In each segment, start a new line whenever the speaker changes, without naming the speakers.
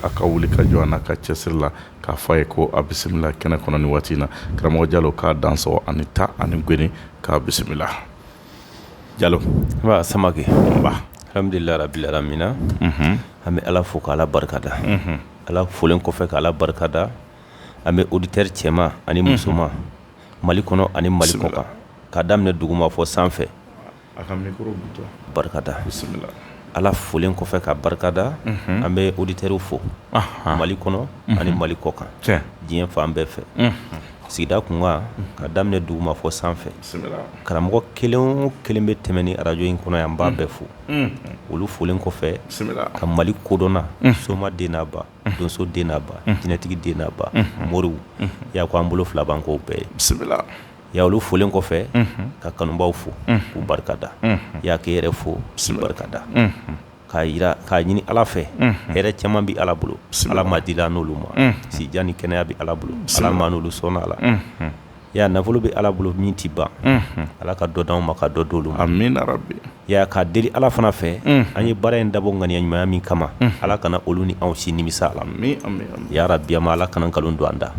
a ka wuli ka jɔ an ka cɛsiri la k'a fɔ a ye ko a bisimila kɛnɛ kɔnɔ ni waati in na karamɔgɔ jalo k'a dansogo a ni ta a ni goni k'a bisimila jalo samakɛ alhamdulilayi rabil alamina an bɛ ala fo k' ala barikada ala folilen kɔfɛ k' ala barikada an bɛ oditɛri cɛman ani musoman mali kɔnɔ ani mali kɔkan ka daminɛ duguma fo sanfɛ a ka barikada bisimila ala folilen kɔfɛ k'a barikada an bɛ oditɛriw fo mali kɔnɔ ani mali kɔkan diɲɛ fan bɛɛ fɛ sigida tunkan ka daminɛ duguma fo sanfɛ karamɔgɔ kelen o kelen bɛ tɛmɛ ni arajo in kɔnɔ yan an b'a bɛɛ fo olu folilen kɔfɛ ka mali kodɔnna soma den n'a ba donso den n'a ba jinɛtigi den n'a ba moriw ya ko an bolo fila b'an kɔ bɛɛ bisimila ya olu folilen kɔfɛ ka kanubaw fo k'u barikada ya k'e yɛrɛ fo k'i barikada k'a jira k'a ɲini ala fɛ hɛrɛ caman bɛ ala bolo ala m'a dila an n'olu ma sijan ni kɛnɛya bɛ ala bolo ala m'an n'olu sɔn a la ya nafolo bɛ ala bolo min tɛ ban ala ka dɔ d'anw ma ka dɔ d'olu ma ya k'a deli ala fana fɛ an ye baara in dabɔ ŋaniya ɲumanya min kama ala kana olu ni anw si nimisa ala yarabi ala kana nkalon don an da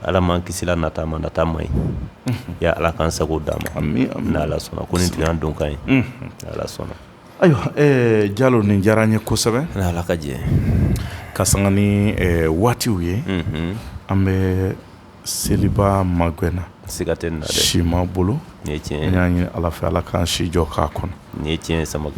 Ala m'an kisi nata ma nata man ɲi y ya ala k'an sago d'an ma ala sɔnna ko nin tigɛ don ka ye ala sɔnna ayiwa jalo nin diyara an ye kosɛbɛ ala ka jɛ ka sanga ni waatiw ye an bɛ seliba magɛn na siga tɛ si ma bolo nin ye tiɲɛ y'a ɲini ala fɛ ala k'an si jɔ k'a kɔnɔ nin ye tiɲɛ sama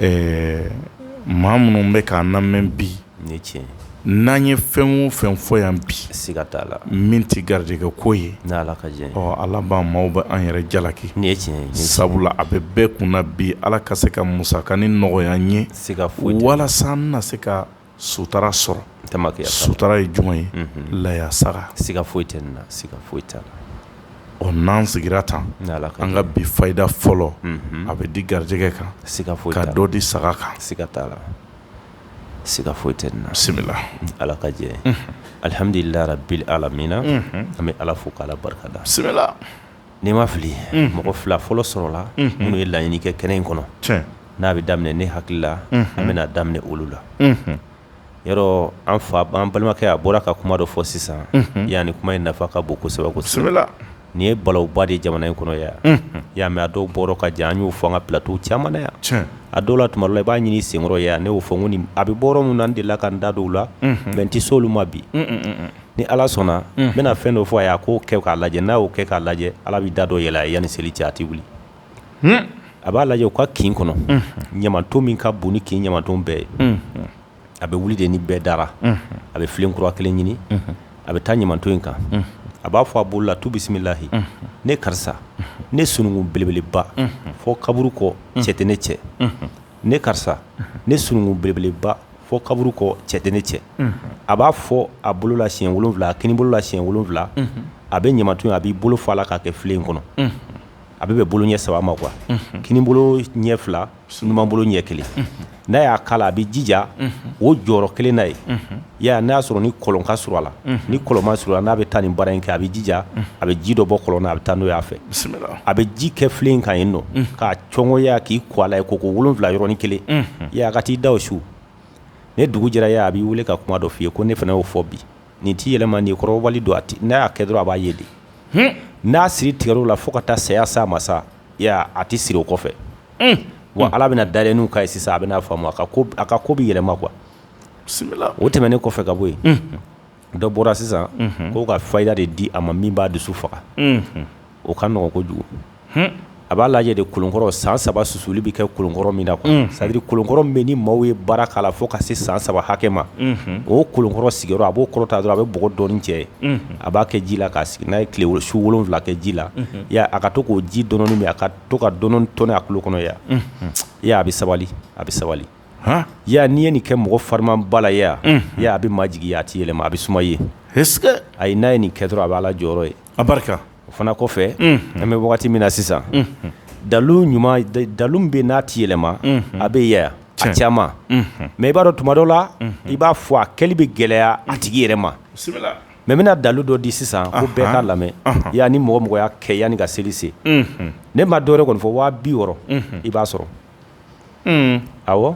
maa minnu bɛ k'an lamɛn bi Ni tiɲɛ n'an ye fɛn o fɛn fɔ yan bi siga t'a la min tɛ garijɛgɛ ko ye n' ala ka jɛ ala b'an maaw bɛ an yɛrɛ jalaki nin ye tiɲɛ sabula a bɛ bɛɛ kun bi ala ka se ka musaka nin nɔgɔya n ye siga foyi walasa n na se ka sutara sɔrɔ kɛ sutara ye jumɛn ye laya saga siga foyi tɛ nin na siga foyi tɛ ɔ n'an sigira tan an ka bi fayida fɔlɔ a bɛ di garijɛgɛ kan siga foyi ka dɔ di saga kan siga t'a la siga foyi tɛ nin na, bisimila, ni Ala ka jɛ ye, unhun, alhamdulilayi rabil alamina an bɛ Ala fo k'Ala barikada, bisimila, n'i ma fili mɔgɔ fila fɔlɔ sɔrɔla minnu ye laɲini kɛ kɛnɛ in kɔnɔ, tiɲɛ, n'a bɛ daminɛ ne hakili la an bɛna daminɛ olu la, unhun, yɔrɔ an fa, an balimakɛ a bɔra ka kuma dɔ fɔ sisan, unhun, yani kuma in nafa ka bon kosɛbɛ kosɛbɛ, bisimila nin ye balawuba de jamana in kɔnɔ ye yan y'a mɛ a dɔw bɔra ka jan an y'o fɔ an ka plateau caman na yan tiɲɛ a dɔw la tumadɔw la i b'a ɲini i senkɔrɔ yan ne y'o fɔ ŋo nin a be bɔ yɔrɔ minnu n delila ka n da don u la unhun mais n te s'olu ma bi un un un un ni Ala sɔnna unhun n bena fɛn dɔ fɔ a ye a k'o kɛ k'a lajɛ n'a y'o kɛ k'a lajɛ Ala bi da dɔ yɛlɛ a ye yani seli cɛ a te wili hun a b'a lajɛ u ka kin kɔnɔ unhun ɲamanton min ka bon ni kin ɲamanton bɛɛ ye unhun a bɛ wuli de ni bɛɛ dara a bɛ filen kura kelen ɲini a bɛ taa ɲamanton in kan a b'a fɔ a bolo la tu bisimilahi ne karisa ne sununkun belebeleba fɔ kaburu kɔ cɛ tɛ ne cɛ ne karisa ne sununkun belebeleba fɔ kaburu kɔ cɛ tɛ ne cɛ a b'a fɔ a bolo la siɲɛ wolonwula a kininbolo la siɲɛ wolonwula a bɛ ɲamanton a b'i bolo fa a la k'a kɛ filen in kɔnɔ a bɛ bɛn bolo ɲɛ saba ma kuwa kininbolo ɲɛ fila numanbolo ɲɛ kelen n'a y'a k'a la a bɛ jija o jɔyɔrɔ kelen na ye ya n'a y'a sɔrɔ ni kɔlɔn ka surun a la ni kɔlɔn man surun a n'a bɛ taa nin baara in kɛ a bɛ jija a bɛ ji dɔ bɔ kɔlɔn a bɛ taa n'o'a fɛ a bɛ ji kɛ filen kɔnɔ k'a cɔngoya k'i ko a la ye ko ko wolon wolonwula yɔrɔnin kelen ya ka t'i da su ni dugu jɛra ye a b'i weele ka kuma dɔ f'i ye ko ne fana y'o fɔ bi nin t'i yɛlɛma nin kɔrɔ don a n'a y'a kɛ dɔrɔn a b'a ye di n'a siri tigɛla fo ka taa saya sa masa sa a tɛ siri o kɔfɛ wa ala bɛna da n'u ka sisan a bɛn'a faamu a ka ko bɛ yɛlɛma kuwa o tɛmɛnen kɔfɛ ka bɔ yen dɔ bɔra sisan k'u ka fayida de di a ma min b'a dusu faga o ka nɔgɔ kojugu a b'a lajɛ de kolonkɔrɔ san saba susuli bɛ kɛ kolonkɔrɔ min na c'est-à-dire kolonkɔrɔ min ni maaw ye baara k'a la fo ka se san saba hakɛ ma o kolonkɔrɔ sigiyɔrɔ a b'o kɔrɔta dɔrɔn a bɛ bɔgɔ dɔɔnin cɛ ye a b'a kɛ ji la k'a sigi n'a ye tile su wolonwula kɛ ji la a ka to k'o ji dɔɔnin min a ka to ka dɔɔnin tɔni a tulo kɔnɔ e a bɛ sabali a bɛ sabali ya n'i ye nin kɛ mɔgɔ farimaba la ya a bɛ majigin a tɛ yɛlɛma a bɛ suma ye a ye n'a ye nin kɛ dɔrɔn a bɛ ala jɔyɔrɔ ye abarika o fana kɔfɛ an bɛ wagati min na sisan dalu ɲuman dalu bɛ n'a tɛ yɛlɛma a bɛ cɛ caman mɛ i b'a dɔn tumadɔ la i b'a fɔ a kɛli bɛ gɛlɛya a tigi yɛrɛ ma n bɛna dalu dɔ di sisan ko bɛɛ k'a lamɛn y'a ni mɔgɔ o mɔgɔ y'a kɛ yanni ka seli se ne ma dɔw kɔni fɔ waa biwɔɔrɔ i b'a sɔrɔ aw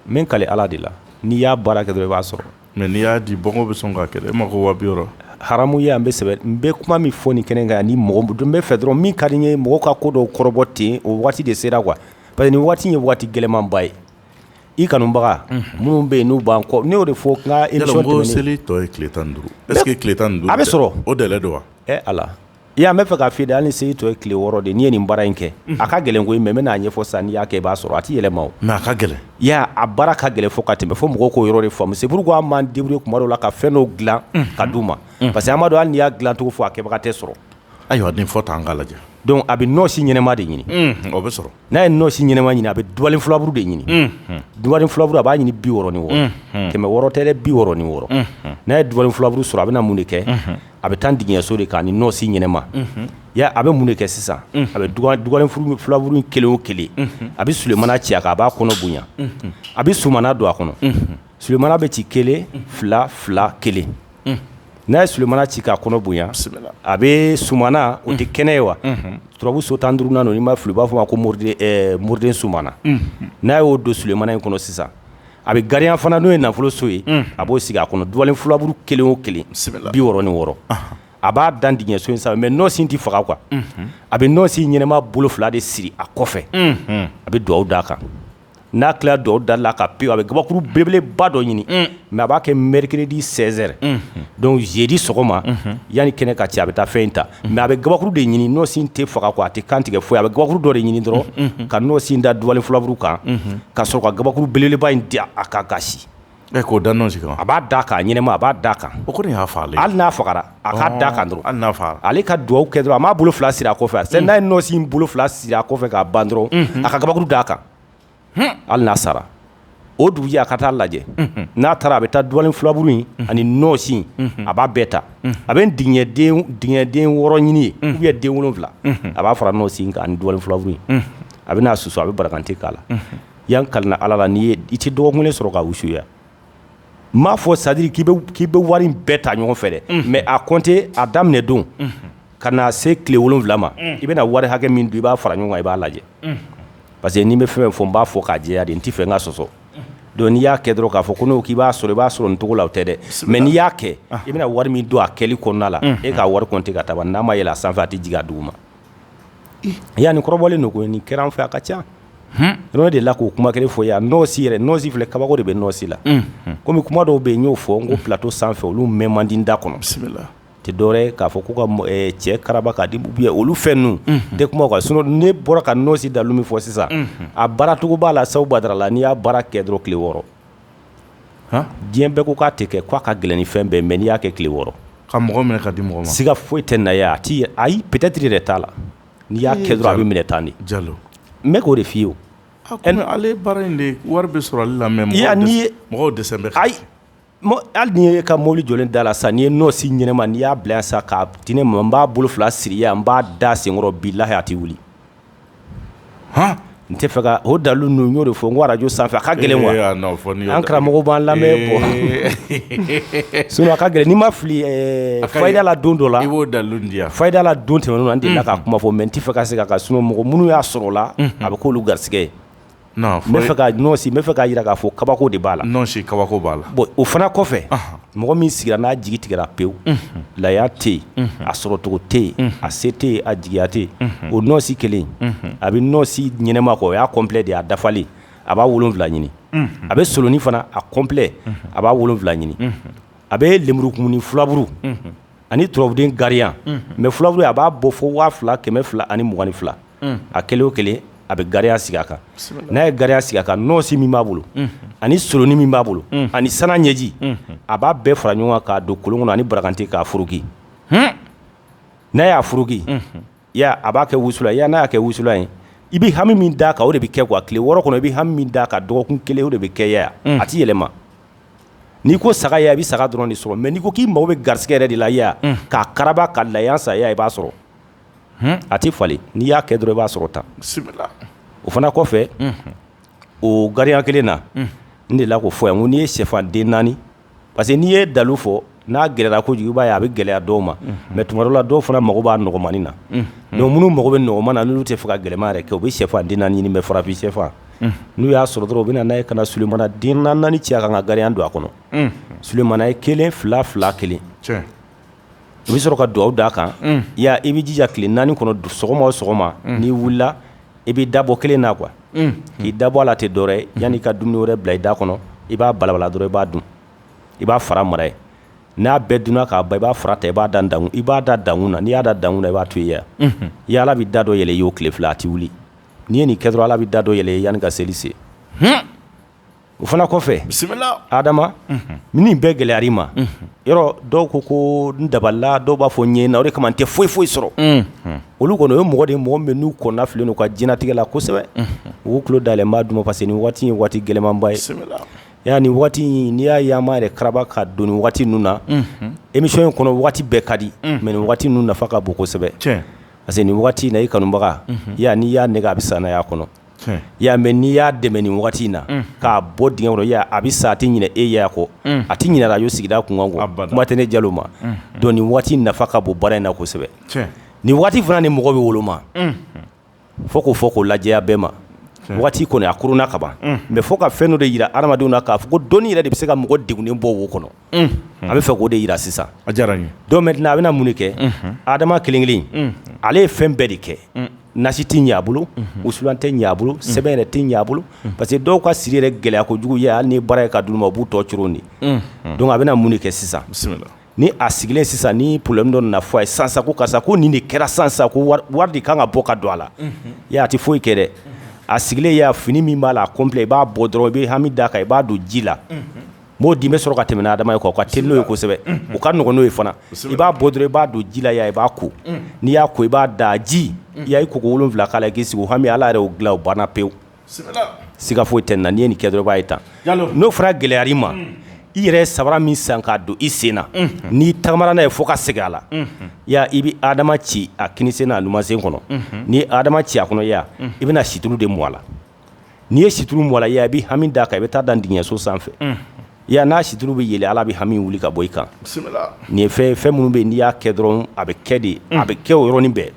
min ka ala de la n'i y'a baara kɛ i b'a sɔrɔ mɛ n'i y'a di bɔ bɛ sɔn ka kɛ e ma ko waa biwɔɔrɔ hamu ye an bɛ sɛbɛn n bɛ kuma min fɔ ni kɛnɛ kan yan ni mɔgɔ dun bɛ fɛ dɔrɔn min ka di ye mɔgɔ ka ko dɔ kɔrɔbɔ ten o waati de sera wa Pa nin waati ye waati gɛlɛnmanba ye i kanubaga minnu bɛ yen n'u ban kɔ n'o de fɔ tile seli tɔ ye tile tan duuru e tile tan duuru a bɛ sɔrɔ o de don wa e a i y'a bɛ fɛ ka fi da hali ni seli tɔ ye tile wɔɔrɔ de n'i ye nin baara in kɛ a ka gɛlɛn ko in n bɛn'a ɲɛfɔ sisan n'i'a kɛ i b'a sɔrɔ a tɛ yɛlɛma a ka gɛlɛn y'a a baara ka gɛlɛn fo ka tɛmɛ fo mɔgɔw k'o yɔrɔ de faamu seuru ko a ma denw kuma la ka fɛn' dila k'a di u ma parce que amadu y'a dilacogo fɔ a kɛbaga tɛ sɔrɔ Ayiwa den fɔ tan an ka lajɛ dɔn a bɛ nɔɔnsi ɲɛnama de ɲini o bɛ sɔrɔ n'a ye nɔɔnsi ɲɛnama ɲini a bɛ dubalen fulaburu de ɲini dubalen fulaburu a b'a ɲini biwɔɔrɔ ni wɔɔrɔ kɛmɛ wɔɔrɔ tɛ dɛ biwɔɔrɔ ni wɔɔrɔ n'a ye dubalen fulaburu sɔrɔ a bɛna mun de kɛ a bɛ taa digiɲɛso de k'a ni nɔɔnsi ɲɛnama ya a bɛ mun de kɛ sisan a bɛ dubalen fulaburu kelen o kelen a bɛ sulemana ci a kan a b'a kɔnɔ bonya a bɛ somana don a kɔnɔ Sulemana bɛ ci kelen fila fila kelen n'a ye sulemana ci k'a kɔnɔ bonya a bɛ Sumana o tɛ kɛnɛ ye wa turabu so tan duuru na i b'a fɔ i b'a fɔ a ma ko moriden Sumana n'a y'o don sulemana in kɔnɔ sisan a bɛ gariyan fana n'o ye nafoloso ye a b'o sigi a kɔnɔ dubalen fulaburu kelen o kelen bi wɔɔrɔ ni wɔɔrɔ a b'a dan digiɲɛ so in sa mɛ nɔsi tɛ faga koyi a bɛ nɔsi ɲɛnama bolo fila de siri a kɔfɛ a bɛ dugawu d'a kan n'a tilala dugawu da la ka pewu a bɛ kabakuru belebeleba dɔ ɲini mɛ a b'a kɛ mercredi soir donc jeudi sɔgɔma yanni kɛnɛ ka ci a bɛ taa fɛn in ta mɛ a bɛ kabakuru de ɲini nɔsi tɛ faga ko a tɛ kantigɛ fɔ a bɛ kabakuru dɔ de ɲini dɔrɔn ka nɔsi da dubalen fulaburu kan ka sɔrɔ ka kabakuru belebeleba in di a ka kasi Ɛ k'o da ɲɔgɔn sigin a b'a d'a kan a ɲɛnama a b'a d'a kan o kɔni y'a faga hali n'a faga a ka da kan dɔrɔn hali n'a faga ale ka dugawu kɛ dɔrɔn a b'a bolo fila siri a kɔfɛ fɛ n'a ye nɔsi bolo fila siri a kɔfɛ k'a ban dɔrɔn a ka kabakuru d'a kan hali n'a sara o dugujɛ a ka taa lajɛ n'a taara a bɛ taa dubalen fulaburu in ani nɔsi a b'a bɛɛ ta a bɛ digiɲɛden wɔɔrɔ ɲini ye u ye den wolonwula a b'a fara nɔsi kan ani dubalen fulaburu in a b'a susu a bɛ barakante k'a la yan ka ala la n'i ye i tɛ dɔgɔkun kelen sɔrɔ ka wusuya n m'a fɔ c'est-à-dire k'i k'i bɛ wari in bɛɛ ta ɲɔgɔn fɛ dɛ mɛ a kɔnte a daminɛ don ka na se tile wolon wolonwula ma i bɛna wari hakɛ min don i b'a fara ɲɔgɔn kan i b'a lajɛ parce que n'i bɛ fɛn fɔ n b'a fɔ k'a jɛya de n tɛ fɛ n ka sɔsɔ dɔn n'i y'a kɛ dɔrɔn k'a fɔ ko n'o k'i b'a sɔrɔ i b'a sɔrɔ nin cogo la tɛ dɛ mɛ n'i y'a kɛ i bɛna wari min don a kɛli kɔnɔna la e k'a wari kɔnte ka taa n'a ma yɛlɛ a sanfɛ a tɛ jigin duguma Yan ni kɔrɔbɔlen don ko nin kɛra an fɛ a ka ca n de la k'o kuma kelen fɔ yan nɔsi yɛrɛ nɔsi filɛ kabako de bɛ nɔsi la kɔmi kuma dɔw bɛ yen y'o fɔ n ko plateau sanfɛ olu mɛ man di da kɔnɔ bisimila tɛ dɔwɛrɛ k'a fɔ ko ka cɛ karaba k'a di olu fɛn ninnu de kuma ka sinon ne bɔra ka nɔsi dalilu min fɔ sisan a baaracogo b'a la sabu Badara la n'i y'a baara kɛ dɔrɔn tile wɔɔrɔ diɲɛ bɛɛ ko k'a tɛ kɛ k'a ka gɛlɛn ni fɛn bɛɛ mɛ n'i y'a kɛ tile wɔɔrɔ ka mɔgɔ minɛ ka di mɔgɔ ma siga foyi tɛ na a tɛ ayi peut-être yɛrɛ t'a la n'i y'a kɛ dɔrɔn a bɛ minɛ tan de jalo n k'o de f'i ye ale baara in de wari bɛ sɔrɔ la mɛ n y'a ye mɔgɔ de bɛ ayi hali n'i y'i ka mobili jɔ da la sa n'i ye nɔsi ɲɛnama n'i y'a bila sa ka di ne ma n b'a bolo fila siri n b'a da senkɔrɔ bilahi a tɛ wuli h n tɛ fɛ k'o dalilu ninnu y'o de fɔ n ko arajo sanfɛ a ka gɛlɛn an karamɔgɔ b'an lamɛn sinon a ka gɛlɛn ni n ma fili fala don dɔ la i b'o dalilu di yan fala don tɛmɛna de la ka kuma fɔ mɛ n tɛ fɛ ka se a kan sinon mɔgɔ minnu y'a sɔrɔ la a bɛ k'olu garisɛgɛ ye N'a fɔ fɛ ka nɔsi bɛ fɛ k'a jira k'a fɔ kabako de b'a la nɔsi kabako b'a la bon o fana kɔfɛ mɔgɔ min sigira n'a jigi tigɛra pewu la tɛ yen a sɔrɔcogo tɛ yen a se tɛ yen a jigiyaya tɛ yen o nɔsi kelen a bɛ nɔsi ɲɛnama kɔ o y'a kɔnplɛ de y'a dafalen a b'a wolonfila ɲini a bɛ solonin fana a kɔnplɛ a b'a wolonfila ɲini a bɛ lenburukumunin filaburu ani turabuden gariya ma filaburu a b'a bɔ fɔ waa fila kɛmɛ fila ani mugan ni fila a kelen o kelen a bɛ gariya sigi a kan n'a ye gariya sigi a kan nɔsi min b'a bolo ani solonin min b'a bolo ani sanu ɲɛji a b'a bɛɛ fara ɲɔgɔn kan k'a don kolon kɔnɔ ani barakante k'a furuki n'a y'a furuki a b'a kɛ wusulan n'a kɛ wusulan ye i bɛ hami min da kan o de bɛ kɛ a tile wɔɔrɔ kɔnɔ i bɛ hami da kan dɔgɔkun kelen o de bɛ kɛya a tɛ yɛlɛma n'i ko saga a bɛ saga dɔrɔn de sɔrɔ mɛ n'i ko k'i mako bɛ garisɛgɛ yɛrɛ de la k'a kara ka la saya i b'a sɔrɔ a tɛ falen n'i y'a kɛ dɔrɔn i b'a sɔrɔ ta o fana kɔfɛ o gariya kelen na n de la ko fɔ yan ko n'i ye shɛfan den naani parce que n'i ye dalilu fɔ n'a gɛlɛyara ko kojuguba ye a bɛ gɛlɛya dɔw ma mɛ tuma dɔ la dɔw fana mako b'a nɔgɔmanin na don minnu mako bɛ nɔgɔman na n'u tɛ fɛ ka gɛlɛya yɛrɛ kɛ u bɛ shɛfan den naani ɲini bɛ farafin shɛfan n'u y'a sɔrɔ dɔrɔn u bɛ na' ye ka na somana den naani ci a kan ka gariya don a kɔnɔ somana ye kelen fila fila kelen i bɛ sɔrɔ ka dugawu d'a kan i b'i jija tile naani kɔnɔ don sɔgɔma o sɔgɔma n'i wulila i bɛ dabɔ kelen na quoi k'i dabɔ a la tɛ dɔwɛrɛ yan'i ka dum wɛrɛ bila i da kɔnɔ i b'a balabala dɔrɔn i b'a dun i b'a fara mara n'i y'a bɛɛ dun k'a ban i b'a fara ta i b'a da da i b'a da dankun na n'i y'a da dankun na i b'a to i yan i ala bɛ da dɔ yɛlɛ i ye o tile fila a tɛ wuli n'i ye nin kɛ dɔrɔn ala bɛ da dɔ yɛlɛ yanni ka seli se o fana kɔfɛ bisimila hadama min bɛɛ gɛlɛyara i ma yɔrɔ dɔw ko ko dabala dɔw b'a fɔ ɲɛ na o de kama a tɛ foyi foyi sɔrɔ olu kɔni ye mɔgɔ de mɔgɔ min n'u kɔnɔnafililen u ka diɲɛnatigɛ la kosɛbɛ u tulo dalen bɛ duguma parce que ni waati ye waati gɛlɛmanba ye yan ni waati in n'i y'a yaama yɛrɛ karaba ka don waati ninnu na emisiyɔn kɔnɔ waati bɛɛ ka di mɛ waati ninnu nafa ka bon kosɛbɛ parce que nin waati na i kanubaga yan n'i y'a nɛgɛn a bɛ sa n'a y'a kɔnɔ y'a mɛ n'i y'a dɛmɛ ni waati in na k'a bɔ dingɛ kɔnɔ a bɛ sa a tɛ ɲinɛ e ya kɔ a tɛ ɲinɛ arajo sigida kun kuma tɛ ne jalo ma don ni waati nafa ka bon baara in na kosɛbɛ ni waati fana ni mɔgɔ bɛ woloma fo k'o fɔ k'o lajɛya bɛɛ ma waati kɔni a kurunna kaban mɛ fo ka fɛn dɔ de jira hadamadenw na k'a fɔ ko dɔnni yɛrɛ de bɛ se ka mɔgɔ degunnen bɔ wo kɔnɔ an b'a fɛ k'o de jira sisan a diyara n dɔ a bɛna mun kɛ hadama kelen kelen ale ye fɛn bɛɛ de kɛ nasi tɛ ɲɛ a bolo wusu tɛ ɲɛ a bolo sɛbɛn yɛrɛ tɛ ɲɛ a bolo parce que dɔw ka siri yɛrɛ gɛlɛya ko jugu ye hali ni baara ye ka dun ma u b'u tɔ cogo di don a bɛna mun de kɛ sisan ni a sigilen sisan ni problème dɔ na fɔ a ye sansa karisa ko nin de kɛra sansa wari de kan ka bɔ ka don a la a tɛ foyi kɛ dɛ a sigilen y'a fini min b'a la a ko i b'a bɔ dɔrɔn i bɛ hami d'a kan i b'a don ji la Maaw de bɛ sɔrɔ ka tɛmɛ na adama ye kɔ ka teli n'o ye kosɛbɛ o ka nɔgɔn n'o ye fana i b'a bɔ dɔrɔn i b'a don ji la i b'a ko n'i y'a ko i b'a da ji ya i ko wolo wolonwula k'a k'i sigi hami ala yɛrɛ dilan banna pewu siga foyi tɛ n'i ye nin kɛ dɔrɔn i b'a ye tan n'o fana gɛlɛyara i ma i yɛrɛ sabara min san k'a don i sen na n'i taamara n'a ye fo ka segin a la ya i bɛ adama ci a kini sen n'a numan sen kɔnɔ n'i ye adama ci a kɔnɔ ya i bɛna situru de mun a la n'i ye situru mun a la ya i bɛ hami da a kan i bɛ taa a da ntigiɲɛso sanfɛ yan n'a situru bɛ yeele ala bɛ hami wuli ka bɔ i kan nin ye fɛn fɛn minnu bɛ n'i y'a kɛ dɔrɔn a bɛ kɛ de a bɛ kɛ yɔrɔnin bɛɛ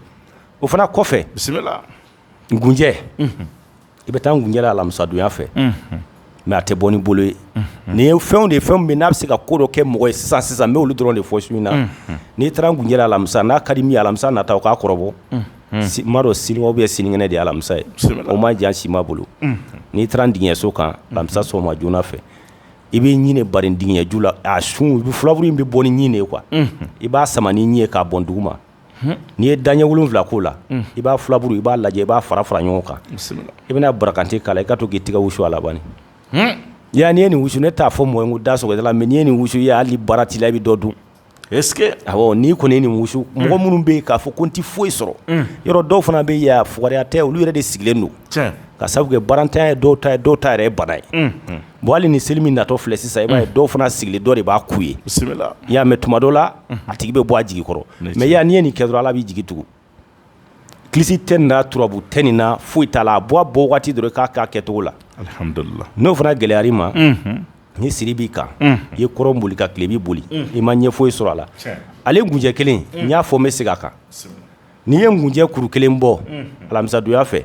o fana kɔfɛ bisimila ngunjɛ i bɛ taa ngunjɛ alamisadon ya fɛ mais a tɛ bɔ ni bolo ye nin ye fɛnw de fɛn min n'a bɛ se ka ko dɔ kɛ mɔgɔ ye sisan sisan n' olu dɔrɔn de fɔ su in na n'i taara ngunjɛ alamisa n'a ka di min alamisa na taa o k'a kɔrɔbɔ ma dɔn sini ou bien sinikɛnɛ de alamisa ye o man jan si maa bolo n'i taara ntigiɲɛso kan alamisa sɔgɔma joona fɛ i bɛ ɲini ba denkɛju la a sun furabulu in bɛ bɔ ni ɲin ye quoi i b'a sama ni ɲin ye k'a bɔ dugu ma n'i ye daɲɛ wolon wolonwula k'o la i b'a furabulu i b'a lajɛ i b'a fara fara ɲɔgɔn kan i bɛna barakante k'a i ka to k'i tigɛ wusu a la ya n'i ye nin wusu ne t'a fɔ mɔgɔ ko da sɔrɔ la mais n'i ye nin wusu ye hali baara' la i bɛ dɔ dun E n'i kɔni ye nin wusu mɔgɔ minnu bɛ yen k'a fɔ ko n tɛ foyi sɔrɔ yɔrɔ dɔw fana bɛ yen fugariya tɛ olu yɛrɛ de sigilen don ka sabu kɛ baarantanya ye dɔw ta dɔw ta yɛrɛ bana ye bon hali ni seli min natɔ filɛ sisan i b'a ye dɔw fana sigilen dɔ de b'a k'u ye ya mais tuma dɔ la a tigi bɛ bɔ a jigi kɔrɔ mais ya n'i ye nin kɛ dɔrɔn ala b'i jigi tugu kilisi tɛ nin na turabu tɛ nin na foyi t'a la a bɔ a bɔ waati dɔrɔn k'a kɛ a kɛcogo la n'o fana gɛlɛyara i ma ni siri b'i kan i ye kɔrɔn boli ka tilebin boli i ma ɲɛ foyi sɔrɔ a la ale gunjɛ kelen n y'a fɔ n bɛ se a kan n'i ye gunjɛ kuru kelen bɔ alamisadon ya fɛ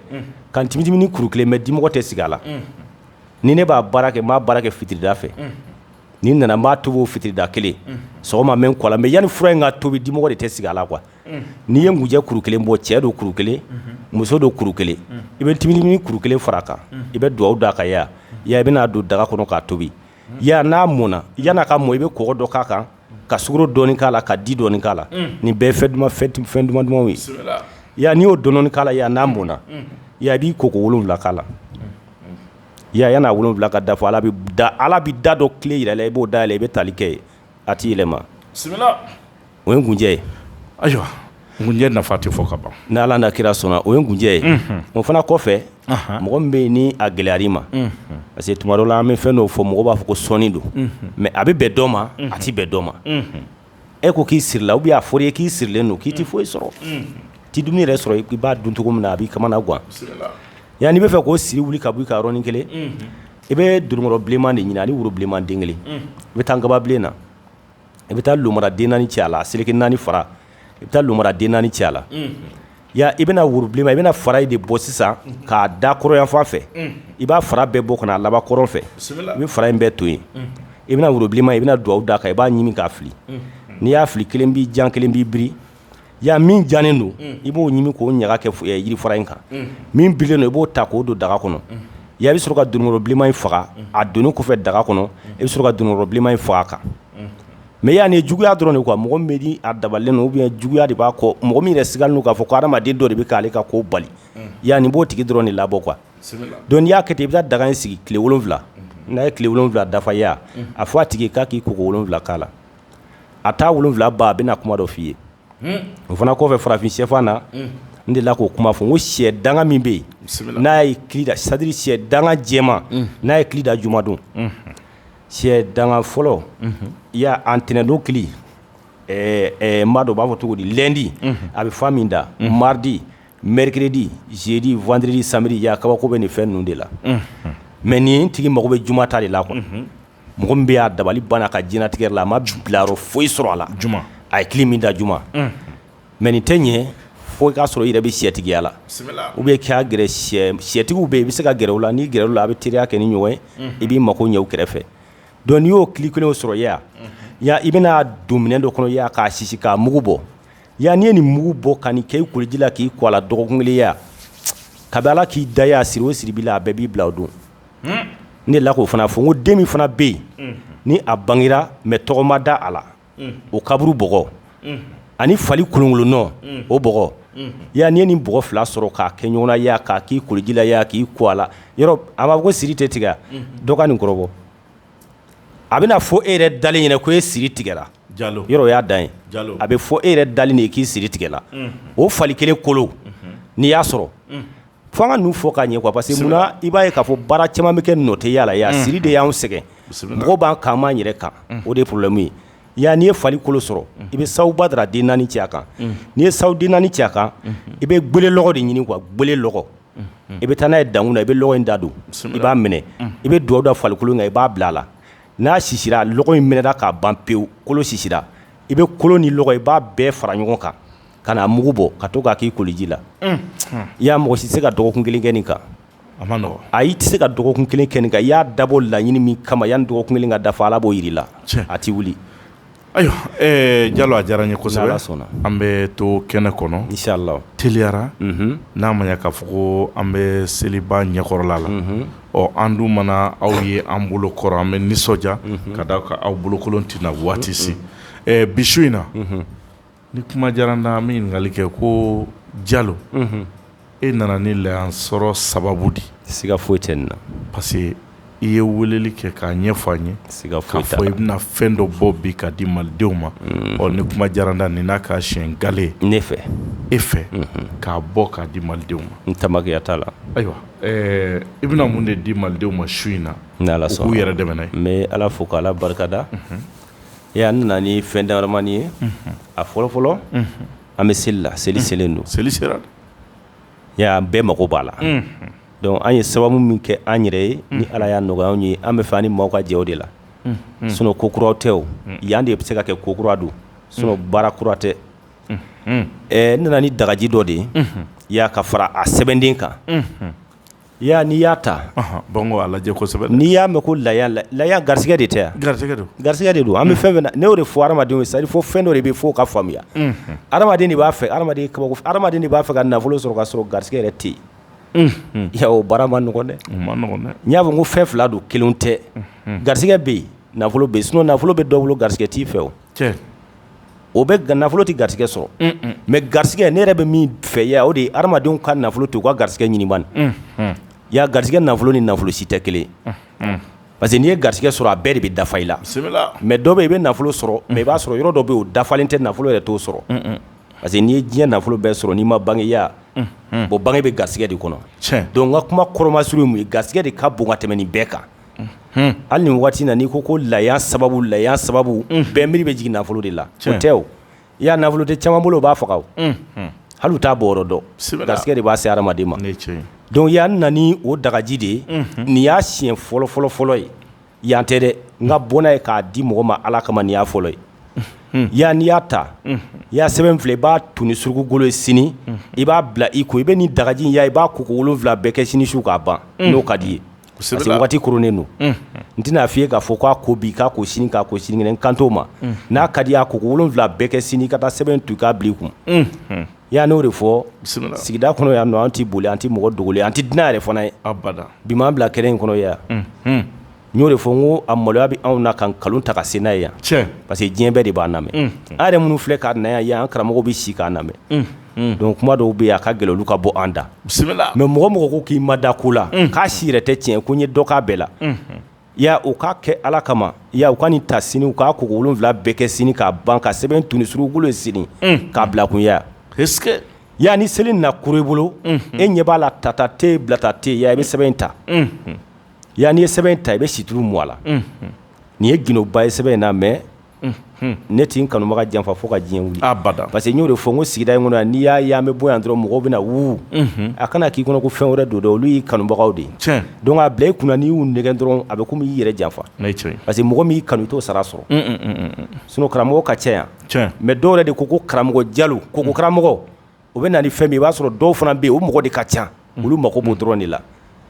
ka timitimini kuru kelen bɔ dimɔgɔ tɛ sigi a la ni ne b'a baara kɛ n b'a baara kɛ fitirida fɛ ni nana b'a tobi fitirida kelen sɔgɔma i b'i ko a la mais yanni fura in ka tobi dimɔgɔ de tɛ sigi a la quoi n'i ye kunjɛ kuru kelen bɔ cɛ don kuru kelen muso don kuru kelen i bɛ timitimi kuru kelen fara kan i bɛ dugawu da a kan ya i bɛna'a don daga kɔnɔ k'a tobi ya n'a mɔn yan ka mɔ i bɛ kɔgɔ dɔ k'a kan ka sukaro dɔni k'a la ka di dɔni k'a la nin bɛɛ fɛ fɛn duman dumanw ye ya n'i y'o dɔ k'a la yan n'a mɔna i b'i ko ko wolowula k'a la ya yani a wolowula ka dafa ala bɛ da ala bɛ da dɔ tile jira i la i b'o da la i bɛ taali kɛ yen a t'i yɛlɛma bisimila o ye kunjɛ ye ayiwa kunjɛ nafa tɛ fɔ ka ban n' ala n'a kira sɔnna o ye kunjɛ ye o fana kɔfɛ mɔgɔ min bɛ yen ni a gɛlɛyara i ma parce que tuma dɔ la an bɛ fɛn fɔ mɔgɔ b'a fɔ ko sɔɔni don mɛ a bɛ bɛn dɔ ma a tɛ bɛn dɔ ma e ko k'i sirila u b'a fɔ i ye k'i sirilen don k'i tɛ foyi sɔrɔ t'i dun yɛrɛ sɔrɔ i b'a dun cogo min na a b'i kamana gan yan n'i b'a fɛ k'o siri wuli ka bɔ i kan yɔrɔnin kelen I bɛ dononkɔrɔ bilenman de ɲini ani woro bilenman den kelen i bɛ taa nkababilen na i bɛ taa mara den naani cɛ a la seleke naani fara i bɛ taa mara den naani cɛ a la ya i bɛna woro bilenma i bɛna fara in de bɔ sisan k'a da kɔrɔn yanfan fɛ i b'a fara bɛɛ bɔ ka na a laban kɔrɔn fɛ i bɛ fara in bɛɛ to yen i bɛna worobilenma i bɛna dugawu da a kan i b'a ɲimi k'a fili n'i y'a fili kelen b'i jan kelen b'i biri Ya min jannen don i b'o ɲimi k'o ɲaga kɛ yiri fara in kan min birilen don i b'o ta k'o don daga kɔnɔ ya i bɛ sɔrɔ ka dononkɔrɔ bilenma in faga a don kɔfɛ daga kɔnɔ i bɛ sɔrɔ ka dononkɔrɔ bilenma in faga a kan mɛ y'a nin juguyaya dɔrɔn nin kuwa mɔgɔ bɛ di a dabalen u bɛ juguyaya de b'a kɔ mɔgɔ min yɛrɛ sigilen don k'a fɔ ko hadamaden dɔ de bɛ k'ale ka ko bali yanani n b'o tigi dɔrɔn nin labɔ qu dɔn y'a kɛ i bɛ daga in sigi tile wolonwula n'a ye tile wolonwula dafa ya a fɔ a tigi k'a k'i ko wolonwula k'a la a taa wolo wolonwula ban a bɛna na kuma dɔ f' i ye o fana kɔfɛ farafin sɛfan na n de la k'o kuma fɔ ko sɛ danga min bɛ yen n'a ye ki c'est-à-dire sɛ danga jɛma n'a ye kili da jumadon sɛ danga fɔlɔ i y'a ntɛnɛndon kili maa dɔ b'a fɔ cogo di lundi a bɛ fan min da mardi mercredi jeudi vendredi samedi kabako bɛ nin fɛn ninnu de la mɛ nin tigi mago bɛ juma ta de la kɔnɔ mɔgɔ min bɛ yen a dabali banna a ka diɲɛlatigɛ la a ma bilayɔrɔ foyi sɔrɔ a la juma a ye kili min da juma unhun mais nin tɛ ɲɛ fo i k'a sɔrɔ i yɛrɛ bɛ siyɛtigiya la bisimila ou bien i ka gɛrɛ siyɛ siyɛtigiw bɛ yen i bɛ se ka gɛrɛ u la n'i gɛrɛla u la a bɛ teriya kɛ ni ɲɔgɔn ye unhun i b'i mago ɲɛ u kɛrɛfɛ donc n'i y'o kili kelen sɔrɔ i ye wa unhun ya i bɛna don minɛn dɔ kɔnɔ i ye wa k'a sisi k'a mugu bɔ ya n'i ye nin mugu bɔ ka nin kɛ i koliji la k'i ko a la dɔgɔkun kelen i ye wa kabi Ala k'i da i ye wa siri o siri b'i la a bɛɛ b'i bila o don ne la k'o fana fɔ ko den min fana bɛ yen ni a bangera mɛ tɔgɔ ma da a la o kaburu bɔgɔ ani fali kolonkolon nɔn o bɔgɔ ya ni ni bɔgɔ fila sɔrɔ k'a kɛ ɲɔgɔn na k'a k'i koliji la i y'a k'i ko a la yɔrɔ a b'a ko siri tɛ tigɛ dɔgɔ nin kɔrɔ a bɛna fɔ e yɛrɛ dalen ɲɛna ko e siri tigɛ yɔrɔ y'a da ye a bɛ fɔ e yɛrɛ dalen de k'i siri tigɛra o fali kelen kolo n'i y'a sɔrɔ fo an ka ninnu fɔ ka ɲɛ quoi parce que mun na i b'a ye k'a fɔ baara caman bɛ kɛ nɔtɛya la yan siri de y'anw sɛgɛn mɔgɔw b'an kan an b'an yɛrɛ kan o de ye problème ye yan n'i ye fali kolo sɔrɔ i bɛ sahu badara den naani ci a kan n'i ye sahu den naani ci a kan i bɛ gele lɔgɔ de ɲini quoi gele lɔgɔ i bɛ taa n'a ye dankun na i bɛ lɔgɔ in da don i b'a mɛnɛ i bɛ dugawu da falikolo in kan i b'a bila a la n'a sisira lɔgɔ in mɛnɛna k'a ban pewu kolo sisira i bɛ kolo ni lɔgɔ i b'a bɛɛ fara ɲɔgɔn kan k'a mugu bɔ ka to k'a k'i koliji la i y'a mɔgɔ si tɛ se ka dɔgɔkun kelen kɛ nin kan a man nɔgɔn ayi i tɛ se ka dɔgɔkun kelen kɛ nin kan i y'a dabɔ laɲini min kama yani dɔgɔkun kelen ka dafa ala b'o jira la a tɛ wuli ayiwa jalo a diyara an ye kosɛbɛ an bɛ to kɛnɛ kɔnɔna teliya la n'a ma k'a fɔ ko an bɛ seliba ɲɛkɔrɔla la ɔ an dun mana aw ye an bolo kɔrɔ an bɛ nisɔndiya ka da a kan aw bolokolon tɛ na waati si bi su in na Ni kuma diyara n na n bɛ ɲininkali kɛ ko Jalo, unhun, e nana ni yan sɔrɔ sababu de ye, siga foyi tɛ nin na, parce que i ye weleli kɛ k'a ɲɛfɔ an ye, siga foyi t'a la, k'a fɔ i bɛna fɛn dɔ bɔ bi k'a di Malidenw ma, unhun, ɔ ni kuma diyara n na nin n'a k'a siɲɛ gale ye, ne fɛ, e fɛ, unhun, k'a bɔ k'a di Malidenw ma, n tamakiya t'a la, ayiwa, ɛɛ i bɛna mun de di Malidenw ma su in na, n'Ala sɔnna, u k'u yɛrɛ dɛmɛ n'a ye, n bɛ Ala fo k'Ala barika da, unhun. Ee an nana ni fɛn damanin ye a fɔlɔ fɔlɔ an bɛ seli la seli selen don seli sera an bɛɛ mako b'a la donc an ye sababu min kɛ an yɛrɛ ye ni ala y'a nɔgɔya anw ye an b'a fɛ an ni mɔgɔw ka jɛ o de la sinon ko kura tɛ o yan de bɛ se ka kɛ ko kura don sinon baara kura tɛ ɛ ne nana ni dagaji dɔ de ye i y'a ka fara a sɛbɛnden kan I y'a n'i y'a ta bɔn ko a lajɛ kosɛbɛ n'i y'a mɛn ko la la garisɛgɛ de tɛ garisɛgɛ don garisɛgɛ de don an bɛ fɛn min na n'o de fɔ hadamadenw sari fɔ fɛn dɔ de bɛ fɔ ka faamuya hadamaden de b'a fɛ hadamaden de b'a fɛ ka nafolo sɔrɔ ka sɔrɔ garisɛgɛ yɛrɛ tɛ yen ya o baara man nɔgɔn dɛ n y'a fɔ ko fɛn fila don kelen tɛ garisɛgɛ bɛ yen nafolo bɛ sinon nafolo bɛ dɔ bolo garisɛgɛ t'i fɛ o o bɛ g nafolo tɛ garisɛgɛ sɔrɔ mɛ garisɛgɛ ne yɛrɛ bɛ min fɛ ya o de ye hadamadenw ka nafolo to u ka garisɛgɛ ɲini ya garisɛgɛ nafolo ni nafolo si tɛ kelen parce que n'i ye garisɛgɛ sɔrɔ a bɛɛ de bɛ dafa i la mɛ dɔ bɛ i bɛ nafolo sɔrɔ mɛ i b'a sɔrɔ yɔrɔ dɔ bɛ o dafalen tɛ nafolo yɛrɛ t'o sɔrɔ parce que n'i ye diɲɛ nafolo bɛɛ sɔrɔ n'i ma bange ya bɔn bange bɛ garisɛgɛ de kɔnɔ donc a kuma kɔrɔma suru ye garisɛgɛ de ka bon ka tɛmɛn nin bɛɛ kan hali ni waati nana n'i ko ko laya sababu laya sababu bɛn nba bɛ jigin nafolo de la cɛ tɛ i y'a nafolo tɛ caman bolo b'a faga hali taa bɔ garisɛgɛ de b'a se hadamaden ma dɔnku y'a nan o dagaji de ye nin y'a si fɔlɔ fɔlɔ fɔlɔ ye yan tɛ dɛ n ka bɔnna ye k'a di mɔgɔ ma ala kama y'a fɔlɔ ye yan ni y'a ta i y'a sɛbɛn fila i b'a tu ni suruku golo ye sini i b'a bila i kun i bɛ ni dagaji ya i b'a ko wolonwula bɛɛ kɛ sini su k'a ban n'o ka di i ye parce que waati kurunnen don n tɛn'a f'i ye k'a fɔ k'a ko bi k'a ko sini k'a ko sinikɛnɛ n kan t'o ma n'a ka di i ye a ko ko wolonwula bɛɛ kɛ sini i ka taa sɛbɛn tu i k'a bila i kun n y'a n'o de fɔ sigida kɔnɔ yan nɔ an tɛ boli an tɛ mɔgɔ dogolen an tɛ dunan yɛrɛ fana ye abada bi m'an bila kɛnɛ in kɔnɔ yan n y'o de fɔ n ko a maloya bɛ anw na ka nkalon ta ka se n'a ye yan tiɲɛ parce que diɲɛ bɛɛ de b'an lamɛn an yɛrɛ minnu filɛ ka na yan yan an karamɔgɔ bɛ se k'an lamɛn Donc kuma dɔw bɛ a ka gɛlɛn ka bɔ an da bisimila mɛ mɔgɔ mɔgɔ ko k'i ma da ko la k'a si yɛrɛ tɛ tiɲɛ ko n ye dɔ k'a bɛɛ la ya o k'a kɛ ala kama ya u ka nin ta sini k'a ko wolonwula bɛɛ kɛ sini k'a ban ka sɛbɛn tu ni suruku golo sini k'a bila kun ya ya ni seli na kuru i bolo e ɲɛ b'a la tata tɛ bilata tɛ ya i bɛ sɛbɛn in ta yan n'i ye sɛbɛn in ta i bɛ situlu mun a la nin ye gundoba ye sɛbɛn in na mɛ ne tɛ n kanubaga janfa fo ka diɲɛ wili abada parce que n y'o de fɔ ko sigida in kɔnɔ n'i y'a ye an bɛ bɔ yan dɔrɔn mɔgɔw bɛna na wu a kana k'i kɔnɔ ko fɛn wɛrɛ don dɛ olu y'i kanubagaw de ye donc a bila i kun n'i y'u nɛgɛ dɔrɔn a bɛ komi y'i yɛrɛ janfa parce que mɔgɔ min'i kanu t'o sara sɔrɔ sun karamɔgɔ ka ca yan mɛ dɔw yɛrɛ de ko ko karamɔgɔ jalo ko ko karamɔgɔ o bɛ na ni fɛn min i b'a sɔrɔ dɔw fana bɛ yen o mɔgɔ de ka ca olu mako b'o dɔrɔn de la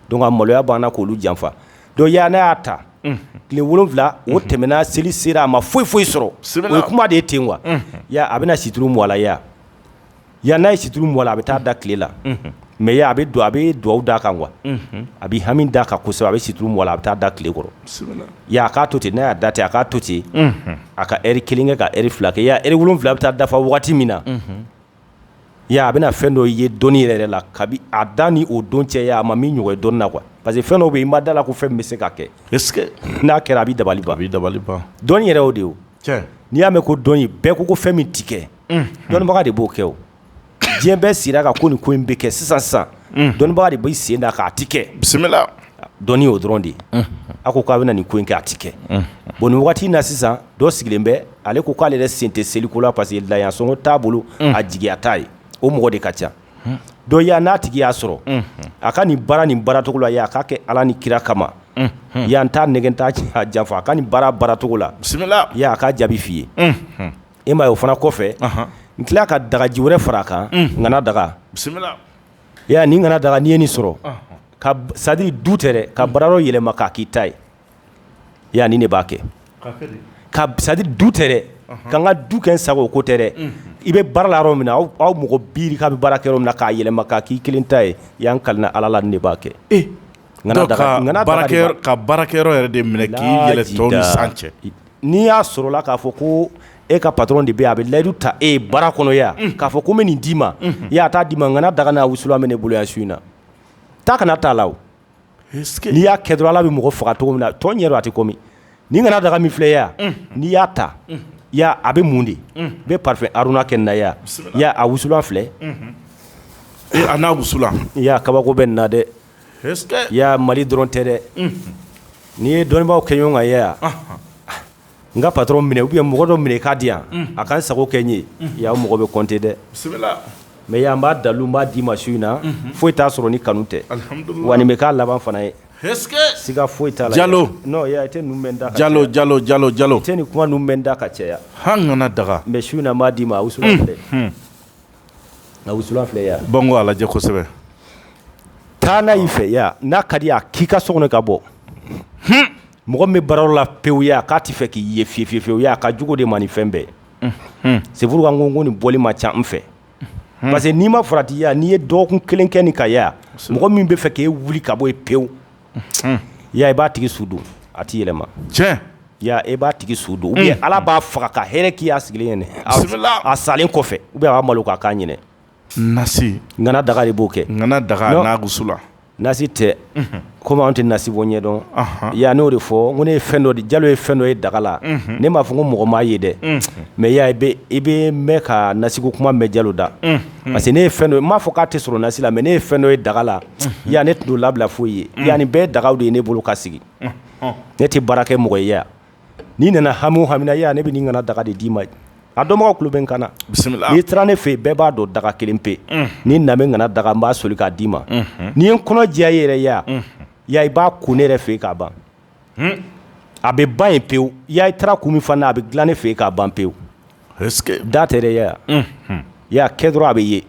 donc maloya b'an na k'olu janfa donc ya ne y'a ta tile wolonwula o tɛmɛna seli sera a ma foyi foyi sɔrɔ o kuma de ye ten wa a bɛna situlu mun a la ya yan n'a ye situlu mun a la a bɛ taa da tile la mɛ a bɛ don a bɛ dugawu d'a kan wa a bɛ hami da kan kosɛbɛ a bɛ situlu mun a la a bɛ taa da tile kɔrɔ ya k'a to ten n'a' da ten a k'a to ten a ka eri kelen kɛ ka eri fila kɛ ya eri wolonwula bɛ taa dafa waati min na Ya a bɛna fɛn dɔ ye dɔnnii yɛrɛ yɛrɛ la kabi a da ni o don cɛ a ma min ɲɔgɔn dɔn na parce que fɛn dɔ bɛ i ma da a la ko fɛn bɛ se ka kɛ n'a kɛra a bɛ dabali a bɛ dabali ban dɔn yɛrɛ o de n'i y'a mɛn ko dɔn bɛɛ ko ko fɛn min tɛ kɛ dɔnnibaga de b'o kɛ o diɲɛ bɛɛ sera ka ko nin ko in bɛ kɛ sisan san dɔnnibaga de bɛ sen da k'a tɛ kɛ bisimila dɔn o dɔrɔn de ye a ko k'a bɛna nin ko in kɛ a tɛ kɛ bon nin waati na sisan dɔ sigilen bɛ ale ko k'ale yɛrɛ sen tɛ seliko la parce que laya sɔngɔ t'a bolo a jigiya t'a ye o mɔgɔ de ka ca dɔ y' n'a tigi y'a sɔrɔ a ka nin baara nin baaracogo la a k'a kɛ ala ni kira kama ya n t'a nɛgɛn n t'a janfa a ka nin baara baaracogo la ya a ka jaabi f'i ye i ma ye o fana kɔfɛ n tila ka dagaji wɛrɛ fara a kan ŋana daga bisimila nin ŋana daga n'i ye nin sɔrɔ c'est-à-dire du tɛ dɛ ka baara dɔ yɛlɛma k'a k'i ta ye Ya ni ne b'a kɛ c'est-à-dire du tɛ dɛ ka ka du kɛ sago ko tɛ dɛ i bɛ baara la yɔrɔ min na aw mɔgɔ bi ka bɛ baara kɛ yɔrɔ min na k'a yɛlɛma k'a k'i kelen ta ye ya n kalila ala la ne b'a kɛ e ka baarakɛ yɛrɛ de minɛ cɛ n'i y'a sɔrɔla k'a fɔ ko e ka patron de bɛ a bɛ layidu ta e baara kɔnɔ ya k'a fɔ ko bɛ nin d'i ma ya a t'a d'i ma ŋana daga n'a wusulan min ne bolo ya su in na taa ka na t'a la n'i y'a kɛ dɔrɔn ala bɛ mɔgɔ faga cogo min na t'o ɲɛ dɔn a tɛ komi nin ŋana daga min filɛ ya n'i y'a ta ya a bɛ mun de n bɛ parfum haruna kɛ n na ya a wusulan filɛ a n'a wusulan ya kabako bɛ n na dɛ ya mali dɔrɔn tɛ dɛ n'i ye dɔnnibaw kɛ ɲɔgɔn kan yaya n ka patron minɛ u ye mɔgɔ dɔ minɛ k'a di yan a ka sago kɛ n ye yan mɔgɔ bɛ kɔnte dɛ mɛ yan b'a dalu b'a d'i ma su in na foyi t'a sɔrɔ ni kanu tɛ wa bɛ k'a laban fana ye siga foyi t'a jalo da jalo jalo jalo jalo tɛ ni kuma ninnu bɛ da ka cɛya ŋana daga mɛ su in n'a d'i ma a wusu filɛ a wusu filɛ yan ban ko alajɛ kosɛbɛ taa n'a y'i fɛ yan n'a ka di a k'i ka so kɔnɔ ka bɔ mɔgɔ min bɛ baara la pewu ya k'a tɛ fɛ k'i ye fiyewu fiyewu ya a ka jugu de man nin fɛn bɛɛ c'est pourquoi n ko ko nin bɔli man ca n fɛ parce que n'i ma farati ya n'i ye dɔgɔkun kelen kɛ nin kan yaya mɔgɔ min bɛ fɛ k'i wuli ka bɔ yen pewu ya i b'a tigi su don a tɛ yɛlɛma ya i b'a tigi su don ala b'a faga ka hɛrɛ k'i ya sigilen ɲini a salen kɔfɛ u bɛ wa malo k'a ɲini nasi ŋana daga de b'o kɛ ŋana daga la nasi tɛ komi an tɛ nasi bɔ ɲɛ dɔn ya n y'o de fɔ ko ne ye fɛn dɔ de jalo ye fɛn dɔ ye daga la ne m'a fɔ ko mɔgɔ m'a ye dɛ mɛ ya i bɛ mɛɛn ka nasi ko kuma mɛn jalo da parce que ne ye fɛn dɔ n m'a fɔ k'a tɛ sɔrɔ nasi la mɛ ne ye fɛn dɔ ye daga la ya ne tun t'o labila foyi ye ya nin bɛɛ dagaw de ye ne bolo ka sigi ne tɛ baara kɛ mɔgɔ ye ya n'i nana hami o hami na ya ne bɛ nin ŋana daga de d'i ma a dɔn mɔgɔw kulu bɛ n kan n'i taara ne fɛ bɛɛ b'a dɔn daga kelen pe ni na ŋana daga n b'a soli k'a d'i ma n'i y'i kɔnɔ jɛya i yɛrɛ yaya ya i b'a kun ne yɛrɛ fɛ k'a ban a bɛ ban yen pewu ya i taara kun min fana a bɛ dilan ne fɛ k'a ban pewu da tɛ dɛ yaya i y'a kɛ dɔrɔn a bɛ ye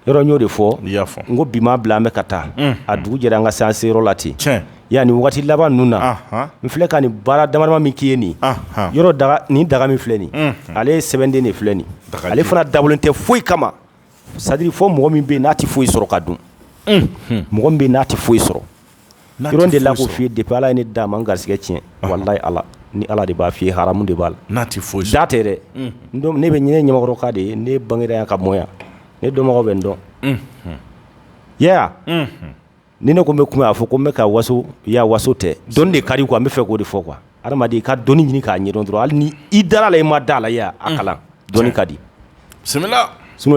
yɔrɔ y'o de fɔ y'a fɔ n ko bi ma bila an bɛ ka taa a dugu jɛra an ka se an seyɔrɔ la ten yani waati laban ninnu na n filɛ ka nin baara damadama min k'i ye nin yɔrɔ ni daga min filɛ nin ale ye sɛbɛnden de filɛ nin ale fana dabɔlen tɛ foyi kama c'est-à-dire fo mɔgɔ min bɛ n'a tɛ foyi sɔrɔ ka dun mɔgɔ min bɛ n'a tɛ foyi sɔrɔ de la ko fi de ala ye ni da maa garijigɛ tiɲɛ wala ala ni ala de b'a f fɔ i hamu de b'a la n'a tɛ foyi da tɛ dɛ ne bɛ ɲinin ɲkɔrɔkan de ye ne bangera ka bɔ yan ne dɔn bɛ n dɔn ni ne ko bɛ kuma' fɔ ko n bɛ ka waso ya waso tɛ dɔn de ka di quoi an bɛ fɛ k'o de fɔ quoi i ka dɔni ɲini k'a ɲɛ dɔrɔn hali ni i dara la i ma da la a kalan dɔn ka di sun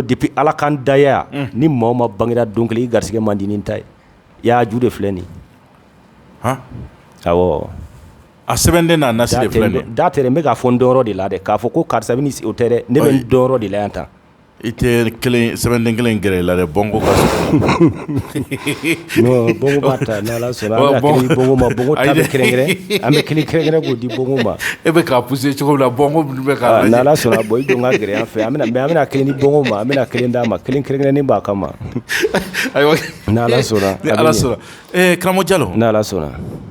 de bɛ ala kan daya ni maa ma bangera don kelen i garijigɛ man di ta ye I y'a ju de filɛ nin hɔn a sɛbɛnden n'a na se da tɛ n bɛ k'a fɔ n dɔn de la dɛ k'a fɔ ko karisa o tɛ dɛ ne bɛ n dɔn de la yan ta i tɛ sɛbɛnden kelen gɛrɛ i la dɛ bɔn ko bɔn an bɛ ki kɛlɛɛrɛ k'o di bonma e bɛ ka p se cogo la bɔn sɔnna bɔ i don ka gɛlɛya fɛ an bɛna kelen di bonma an bɛna kelen d'a ma kelen- kelen- kelen ni b'a ka ma karamɔgɔ jalo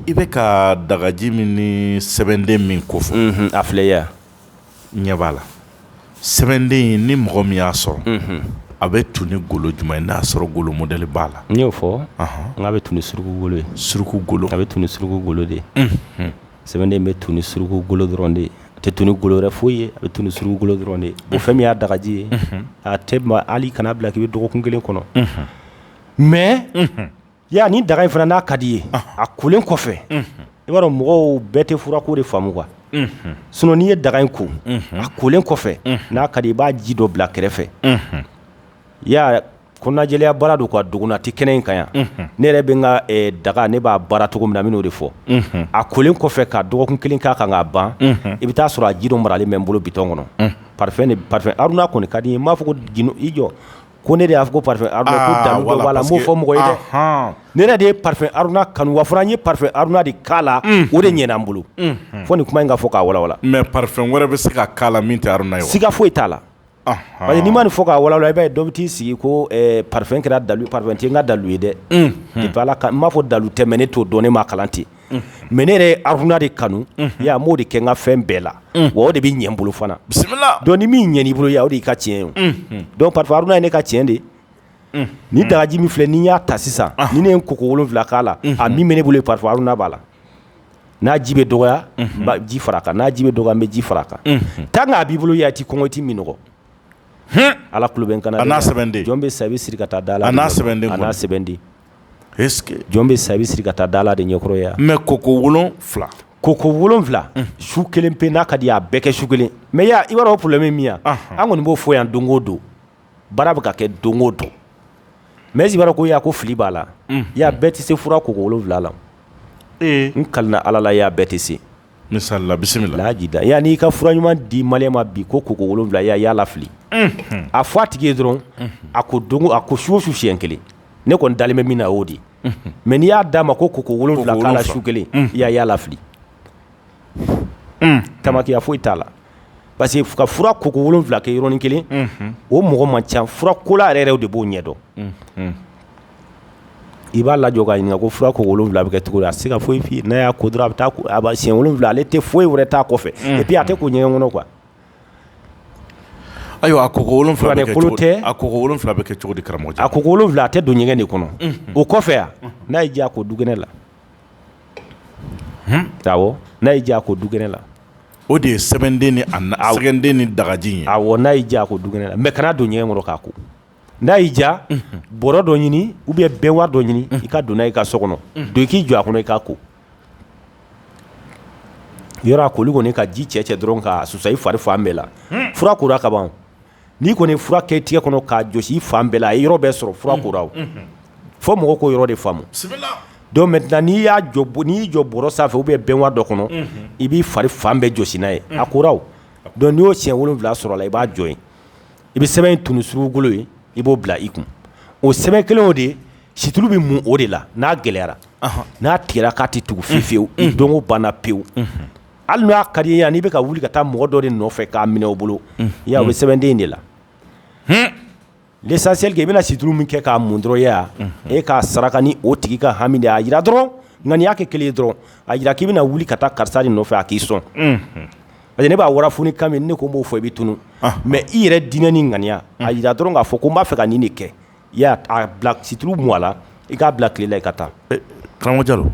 i bɛ ka dagaji min ni sɛbɛnden min kofɔ a filɛya ɲɛ b'a la sɛbɛnden ni mɔgɔ min y'a sɔrɔ a bɛ tu ni golo jumɛn i n'a sɔrɔ golo modɛli b'a la n y'o fɔ n' bɛ tu suruku golo suruku golo a bɛ tu suruku golo de sɛbɛnden bɛ tu ni suruku golo dɔrɔn de ye, a tɛ tu ni golo wɛrɛ foyi ye, a bɛ tu ni suruku golo dɔrɔn de ye, unhun, fɛn min y'a dagaji ye, unhun, a tɛ ban hali kana bila k'i bɛ dɔgɔkun kelen kɔnɔ, unhun, mais unhun, yala ni daga in fana n'a ka di i ye, ɔnhɔn, a kolen kɔfɛ, unhun, i b'a dɔn mɔgɔw bɛɛ tɛ furako de faamu quoi, unhun, sinon n'i ye daga in ko, unhun, a kolen kɔfɛ, unhun, n'a ka di i ye i b'a ji dɔ bila kɛrɛfɛ, unhun, yala Ko lajɛya baara don ka dogo tɛ kɛnɛ in kan yan ne yɛrɛ bɛ n ka daga ne b'a baara cogo min na n b'o de fɔ a kolen kɔfɛ ka dɔgɔkun kelen k'a kan k'a ban i bɛ taa sɔrɔ a ji dɔ maralen bɛ n bolo bidɔn kɔnɔ parfum aruna kɔni ka di i m'a fɔ i jɔ ko ne de y'a fɔ fɔ mɔgɔ ye dɛ ne yɛrɛ de ye aruna kanu wa fɔra n ye aruna de k'a la o de ɲɛ n bolo fo nin kuma in ka fɔ k'a mɛ wɛrɛ bɛ se ka min ye sika foyi t'a la Ayi n'i ma nin fɔ k'a walawala i bɛ dɔ bɛ t'i sigi ko parfum kɛra dalu parfum tɛ n ka dalu ye dɛ n m'a fɔ dalu tɛ mais ne t'o dɔn ne ma kalan ten mais ne yɛrɛ aruna de kanu n b'o de kɛ n ka fɛn bɛɛ la o de bɛ ɲɛ n bolo fana bisimila dɔn ni min ɲɛ i bolo o y'i ka tiɲɛ ye dɔn parfum haruna ye ne ka tiɲɛ de ye ni dagaji min filɛ n'i y'a ta sisan ni ne ye ko ko wolonwula k'a la a min bɛ ne bolo parfum haruna b'a la n'a ji bɛ dɔgɔya ji fara kan n'a ji bɛ dɔgɔya n bɛ ji fara kan taa n'a b'i bolo a tɛ kɔngɔti minɔgɔ ala ku bɛ kana n'a sɛbɛn jɔn bɛ sa i bɛ siri ka taa da la n'a sɛbɛn n'a sɛbɛn di jɔn bɛ sa i bɛ siri ka taa da la de ɲɛkɔrɔya mɛ koko wolo wolonwula koko wolonwula su kelen pe n'a ka di a bɛ kɛ su kelen mais y' i b'a dɔn problème min yan an kɔni b'o fɔ yan don o don baara bɛ ka kɛ don o don mais Jibara ko yaa ko fili b'a la, unhun, y'a bɛɛ tɛ se fura koko 7 la, ee, n kali la Ala la y'a bɛɛ tɛ se, misali la bisimila, lahaji da y'a n'i ka fura ɲuman di maliyɛn ma bi ko koko 7 y'a y'a lafili, unhun, a fɔ a tigi ye dɔrɔn a ko don a ko su o su siɲɛ 1 ne kɔni dalen bɛ min na o y'o de ye, unhun, mais n'i y'a d'a ma ko koko 7 k'a la su 1 y'a y'a lafili tamakiya foyi t'a la parce que ka fura koko 7 kɛ yɔrɔnin kelen o mɔgɔ man ca fura kola yɛrɛ yɛrɛw de b'o ɲɛdɔn i b'a lajɔ k'a ɲininka ko fura koko 7 bɛ kɛ cogo di a tɛ se ka foyi f'i ye n'a y'a ko dɔrɔn a bɛ taa a b'a siɲɛ 7 ale tɛ foyi wɛrɛ t'a kɔfɛ et puis a tɛ ko ɲɛgɛn kɔnɔ quoi ayiwa a koko 7 bɛ kɛ cogo di a koko 7 bɛ kɛ cogo di karamɔgɔcɛ a koko 7 a tɛ don ɲɛgɛn de kɔnɔ o kɔfɛ a n'a y'i diya a ko dukɛnɛ la n'a y'i diya a ko dukɛnɛ la o de ye sɛbɛnden ni awden ni dagaji a n'a y'i diya a ko dukɛnɛ la mais kana don ɲɛgɛn kɔnɔ k'a ko n'a y'i diya bɔrɔ dɔ ɲini ou bien baignoire dɔ ɲini i ka donna i ka so kɔnɔ don i k'i jɔ a kɔnɔ i ka ko yɔrɔ a koli kɔni i ka ji cɛ cɛ dɔrɔn k'a susa i fari fan bɛɛ la fura kora kaban n'i kɔni fura kɛ i tigɛ kɔnɔ k'a jɔsi i fan bɛɛ la a yɔrɔ bɛɛ sɔrɔ fura kora fo mɔgɔ ko yɔrɔ de faamu don mais n'i y'a jɔ n'i jɔ bɔrɔ sanfɛ ou bien baignoire dɔ kɔnɔ i b'i fari fan bɛɛ jɔsi n'a ye a ko dɔn n'o siɲɛ wolo wolonwula sɔrɔla i b'a jɔ i bɛ sɛbɛn in tun suruugu bolo ye i b'o bila i kun o sɛbɛn kelen o de situlu bɛ mun o de la n'a gɛlɛyara n'a tigɛra k'a tɛ tugu fi fiyewu don banna pewu hali n'a ka di i ye n'i bɛ ka wuli ka taa mɔgɔ dɔ de nɔfɛ k'a minɛ o bolo i y'a ye o bɛ sɛbɛnden in de la l'essentiel que i bɛna situru min kɛ k'a mun dɔrɔn i y'a ye e k'a saraka ni o tigi ka hami de ye a jira dɔrɔn ŋaniya kɛ kelen ye dɔrɔn a jira k'i bɛna wuli ka taa karisa de nɔfɛ a k'i sɔn parce que ne b'a warafu kan min ne ko n b'o fɔ i bɛ tunun mais i yɛrɛ diinɛ ni ŋaniya a jira dɔrɔn k'a fɔ ko n b'a fɛ ka nin de kɛ I y'a a bila situlu mun a la i k'a bila tile la i ka taa karamɔgɔ Jalo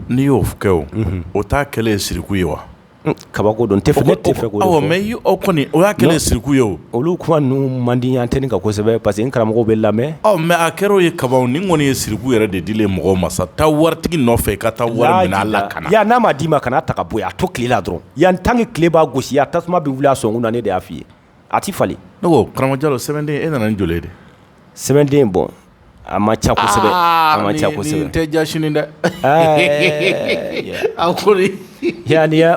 n'i y'o kɛ o o taa kɛlen ye siriku ye wa kabako don tɛ fɔ ne tɛ fɛ ko mɛ y' aw kɔni o y'a kɛlɛ siriku ye o olu kuma ninnu man di an tɛ kasɛbɛ parce que karamɔgɔw bɛ lamɛn aw mɛ a kɛra o ye kaba ni kɔni ye siriku yɛrɛ de di mɔgɔ ma sa taa waritigi nɔfɛ ka taa wara a la ka yan n'a ma d'i ma kana taa ka bɔ a to tile la dɔrɔn yan tan ni tile b'a gosi a tasuma bɛ wuli a sɔn na ne de y'a fɔ i ye A tɛ falen ne ko karamɔgɔ jalo sɛbɛnden e nana n jɔ de sɛbɛnden bɔ a ma ca kosɛbɛ a ma ca kosɛbɛ tɛ ja sini dɛ a ko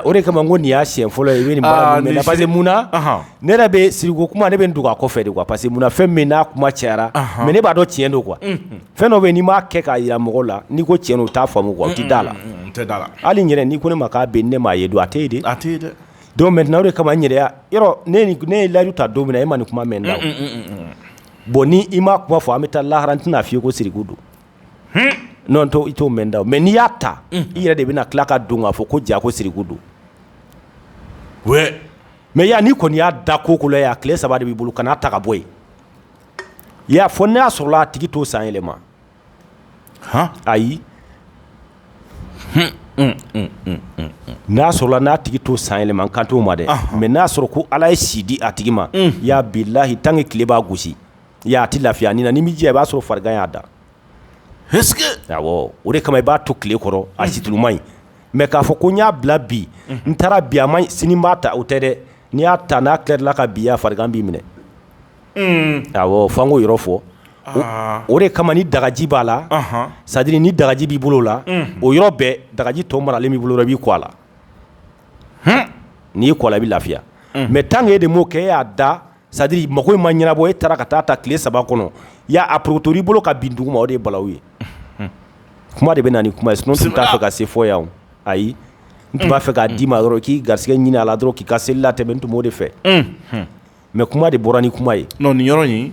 o de kama ko nin y'a si fɔlɔ ye i bɛ pa mun na ne yɛrɛ bɛ siriku kuma ne bɛ dugu a kɔ fɛ de kuwa parce que munna fɛn min n'a kuma cayara mɛ ne b'a dɔn tiɲɛ don kuwa fɛn dɔ bɛ n'i m'a kɛ k'a jira mɔgɔ la n'i ko cɛn o t'a faamu tɛ da a la hali ɲɛna n'i ko ne ma k'a bɛ ne m'a ye don a tɛ yen di a tɛ yen dɛ Don mɛntɛnan o de kama n yɛrɛya yɔrɔ ne ne ye layidu ta don min na e ma nin kuma mɛn n da bon ni i ma kuma fɔ an bɛ taa lahara n tɛna a fɔ i ko siriku don n' to i t'o mɛn n da mɛ n'i y'a ta i yɛrɛ de bɛna tila k'a dɔn k'a fɔ ko ja ko siriku don mɛ yan n'i kɔni y'a da ko ko yan a tile saba de b'i bolo ka n'a ta ka bɔ yen i y'a fɔ n'a sɔrɔla a tigi t'o san yɛlɛma a ayi n'a sɔrɔla n'a tigi t'o san yɛlɛma n kan t'o ma dɛ mɛ n'a sɔrɔ ko ala ye si di a tigi ma ya bilahi tan ni tile b'a gosi a tɛ lafiya a ni na ni bɛ i b'a sɔrɔ farigan y'a da o de kama i b'a to tile kɔrɔ a situlu man ɲi mɛ k'a fɔ ko n y'a bila bi n taara bi a ma sini b'a ta o tɛ dɛ n'i y'a ta n'a tilala i la ka bin ya farigan b'i minɛ fanko yɔrɔ fɔ o de kama ni dagaji b'a la sadiri ni dagaji b'i bolo la o yɔrɔ bɛɛ dagaji tɔ maralen b'i bolo b'i ko a la n'i ko i bɛ lafiya mɛ tan e de m'o kɛ e y'a da sadi mako in ma ɲɛnabɔ e taara ka taa a ta tile saba kɔnɔ ya a porokoto i bolo ka bin dugu ma o de bala ye kuma de bɛ na kuma n tun t'a fɛ ka se fo yan ayi n tun b'a fɛ k'a d'i ma dɔrɔn k'i garisɛgɛ ɲinin a la dɔrɔn k'i ka seli latɛmɛ n tun b'o de fɛ mɛ kuma de bɔra ni kuma ye nɔn nin yɔrɔ in